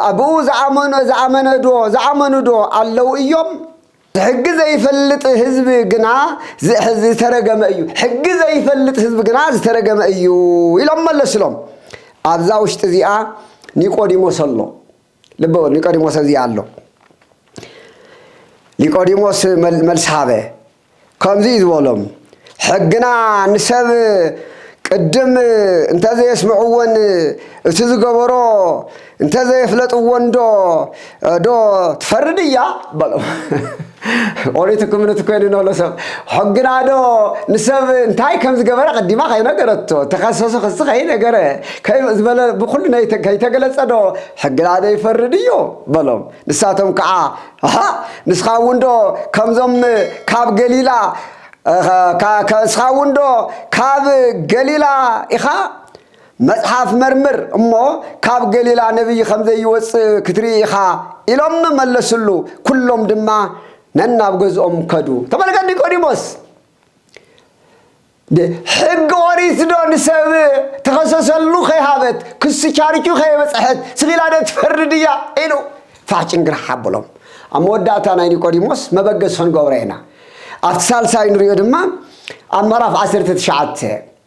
ኣብኡ ዝኣመኑ ዝኣመነዶ ዝኣመኑዶ ኣለው እዮም ሕጊ ዘይፈልጥ ህዝቢ ግና ዝተረገመ እዩ ሕጊ ዘይፈልጥ ህዝቢ ግና ዝተረገመ እዩ ኢሎም መለስሎም ኣብዛ ውሽጢ እዚኣ ኒቆዲሞስ ኣሎ ልቢ በሉ ኒቆዲሞስ ኣብዚ ኣሎ። ኒቆዲሞስ መልሲ ሃበ፣ ከምዚ እዩ ዝበሎም፣ ሕግና ንሰብ ቅድም እንተዘየስምዕዎን እቲ ዝገበሮ እንተዘየፍለጥዎን ዶ ዶ ትፈርድ እያ በሎም። ኦሪት ክምኑት ኮይኑ ነሎ ሰብ ሕግናዶ ንሰብ እንታይ ከም ዝገበረ ቀዲማ ከይነገረቶ ተኸሰሱ ክስ ከይነገረ ዝበለ ብኩሉ ከይተገለጸዶ ሕግናዶ ይፈርድ እዩ በሎም ንሳቶም ከዓ ንስኻ እውን ዶ ከምዞም ካብ ገሊላ እስኻ እውን ዶ ካብ ገሊላ ኢኻ መጽሓፍ መርምር እሞ ካብ ገሊላ ነቢይ ኸም ዘይወጽእ ክትርኢ ኢኻ ኢሎም መለስሉ። ኵሎም ድማ ነናብ ገዝኦም ከዱ። ተመልከት ኒቆዲሞስ፣ ሕጊ ኦሪትዶ ንሰብ ተኸሰሰሉ ከይሃበት፣ ክሲ ቻርቹ ከየበጽሐት ስኺላዶ ትፈርድ እያ? ኢሉ ፋሕ ጭንግራሕ ኣበሎም። ኣብ መወዳእታ ናይ ኒቆዲሞስ መበገሲ ኽንገብሮ ኢና። ኣብቲ ሳልሳይ ንርእዮ ድማ ኣብ ምዕራፍ ዓሰርተ ትሽዓተ።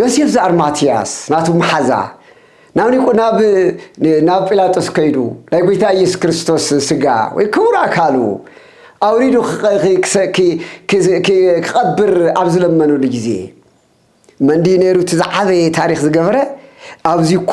ዮሴፍ ዘኣርማትያስ ናቱ መሓዛ ናብ ኒቆ ናብ ናብ ጲላጦስ ከይዱ ናይ ጎይታ ኢየሱስ ክርስቶስ ስጋ ወይ ክቡር ኣካሉ ኣውሪዱ ክቐብር ኣብ ዝለመነሉ ግዜ መንዲ ነይሩ እቲ ዝዓበየ ታሪኽ ዝገበረ ኣብዚ እኮ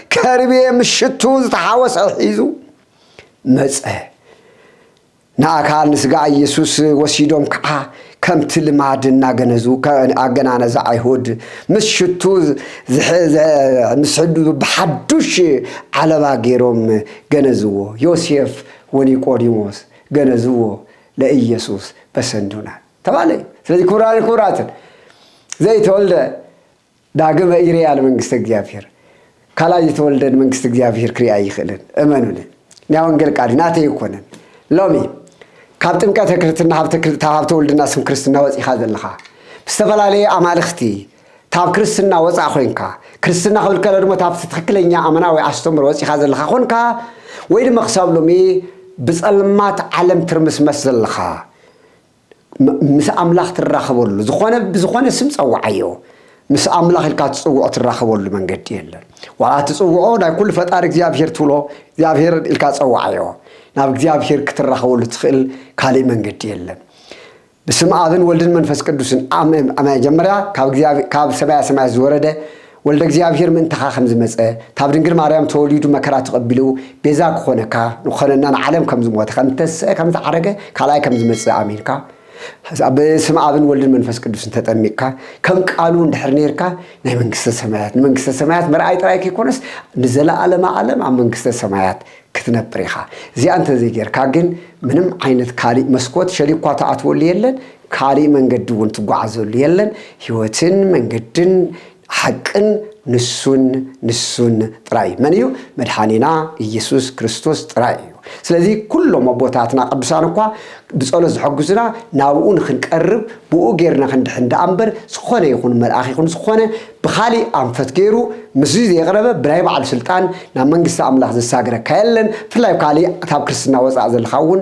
ከርቤ ምስ ሽቱ ዝተሓወሰ ሒዙ መጸ። ንኣካል ንስጋ ኢየሱስ ወሲዶም ከዓ ከምቲ ልማድ እናገነዙ ኣገናነዘ ኣይሁድ ምስ ሽቱ ምስ ሕዱ ብሓዱሽ ዓለባ ገይሮም ገነዝዎ ዮሴፍ ወኒቆዲሞስ ገነዝዎ ለኢየሱስ በሰንዱና ተባለ እዩ ስለዚ ክቡራን ክቡራትን ዘይተወልደ ዳግመ ይርኣ ንመንግስተ እግዚኣብሔር ካልኣይ ዝተወልደ ንመንግስቲ እግዚኣብሔር ክሪኣ ኣይኽእልን እመኑኒ ናይ ወንጌል ቃል ናተይ ኣይኮነን ሎሚ ካብ ጥምቀተ ክርስትና ሃብተ ውልድና ስም ክርስትና ወፂኻ ዘለኻ ብዝተፈላለየ ኣማልኽቲ ታብ ክርስትና ወፃእ ኮንካ ክርስትና ክብል ከሎ ድማ ታብቲ ትክክለኛ ኣመናዊ ኣስተምሮ ወፂኻ ዘለኻ ኮንካ ወይ ድማ ክሳብ ሎሚ ብፀልማት ዓለም ትርምስመስ ዘለኻ ምስ ኣምላኽ ትራኸበሉ ዝኾነ ብዝኾነ ስም ጸውዓዮ ምስ ኣምላኽ ኢልካ ትጽውዖ ትራኸበሉ መንገዲ የለን ዋላ ትጽውዖ ናይ ኩሉ ፈጣሪ እግዚኣብሄር ትብሎ እግዚኣብሄር ኢልካ ጸውዓዮ ናብ እግዚኣብሄር ክትራኸበሉ ትኽእል ካልእ መንገዲ የለን ብስም ኣብን ወልድን መንፈስ ቅዱስን መጀመርያ ካብ ሰማያ ሰማያት ዝወረደ ወልደ እግዚኣብሔር ምእንታኻ ከም ዝመጸ፣ ካብ ድንግል ማርያም ተወሊዱ መከራ ተቐቢሉ ቤዛ ክኾነካ፣ ንክኾነና ንዓለም ከም ዝሞተ፣ ከም ዝተስዐ፣ ከም ዝዓረገ፣ ካልኣይ ከም ዝመጽእ ኣሚንካ፣ ኣብ ስም ኣብን ወልድን መንፈስ ቅዱስን ተጠሚቅካ፣ ከም ቃሉ እንድሕር ኔርካ፣ ናይ መንግስተ ሰማያት፣ ንመንግስተ ሰማያት ምርኣይ ጥራይ ከይኮነስ፣ ንዘለዓለመ ዓለም ኣብ መንግስተ ሰማያት ክትነብር ኢኻ። እዚኣ እንተዘይጌርካ ግን ምንም ዓይነት ካሊእ መስኮት ሸሊኳ ትኣትወሉ የለን፣ ካልእ መንገዲ እውን ትጓዓዘሉ የለን፣ ህይወትን መንገድን ሓቅን ንሱን ንሱን ጥራይ እዩ። መን እዩ? መድሓኒና ኢየሱስ ክርስቶስ ጥራይ እዩ። ስለዚ ኩሎም ኣቦታትና ቅዱሳን እኳ ብጸሎት ዝሕግዙና ናብኡ ንኽንቀርብ ብኡ ጌርና ክንድሕን ደኣ እምበር ዝኾነ ይኹን መልኣኽ ይኹን ዝኾነ ብኻሊእ ኣንፈት ጌሩ ምስዚ ዘይቕረበ ብናይ ባዕሉ ስልጣን ናብ መንግስቲ ኣምላኽ ዘሳግረካ የለን። ብፍላይ ኣብ ካልእ ካብ ክርስትና ወጻእ ዘለኻ እውን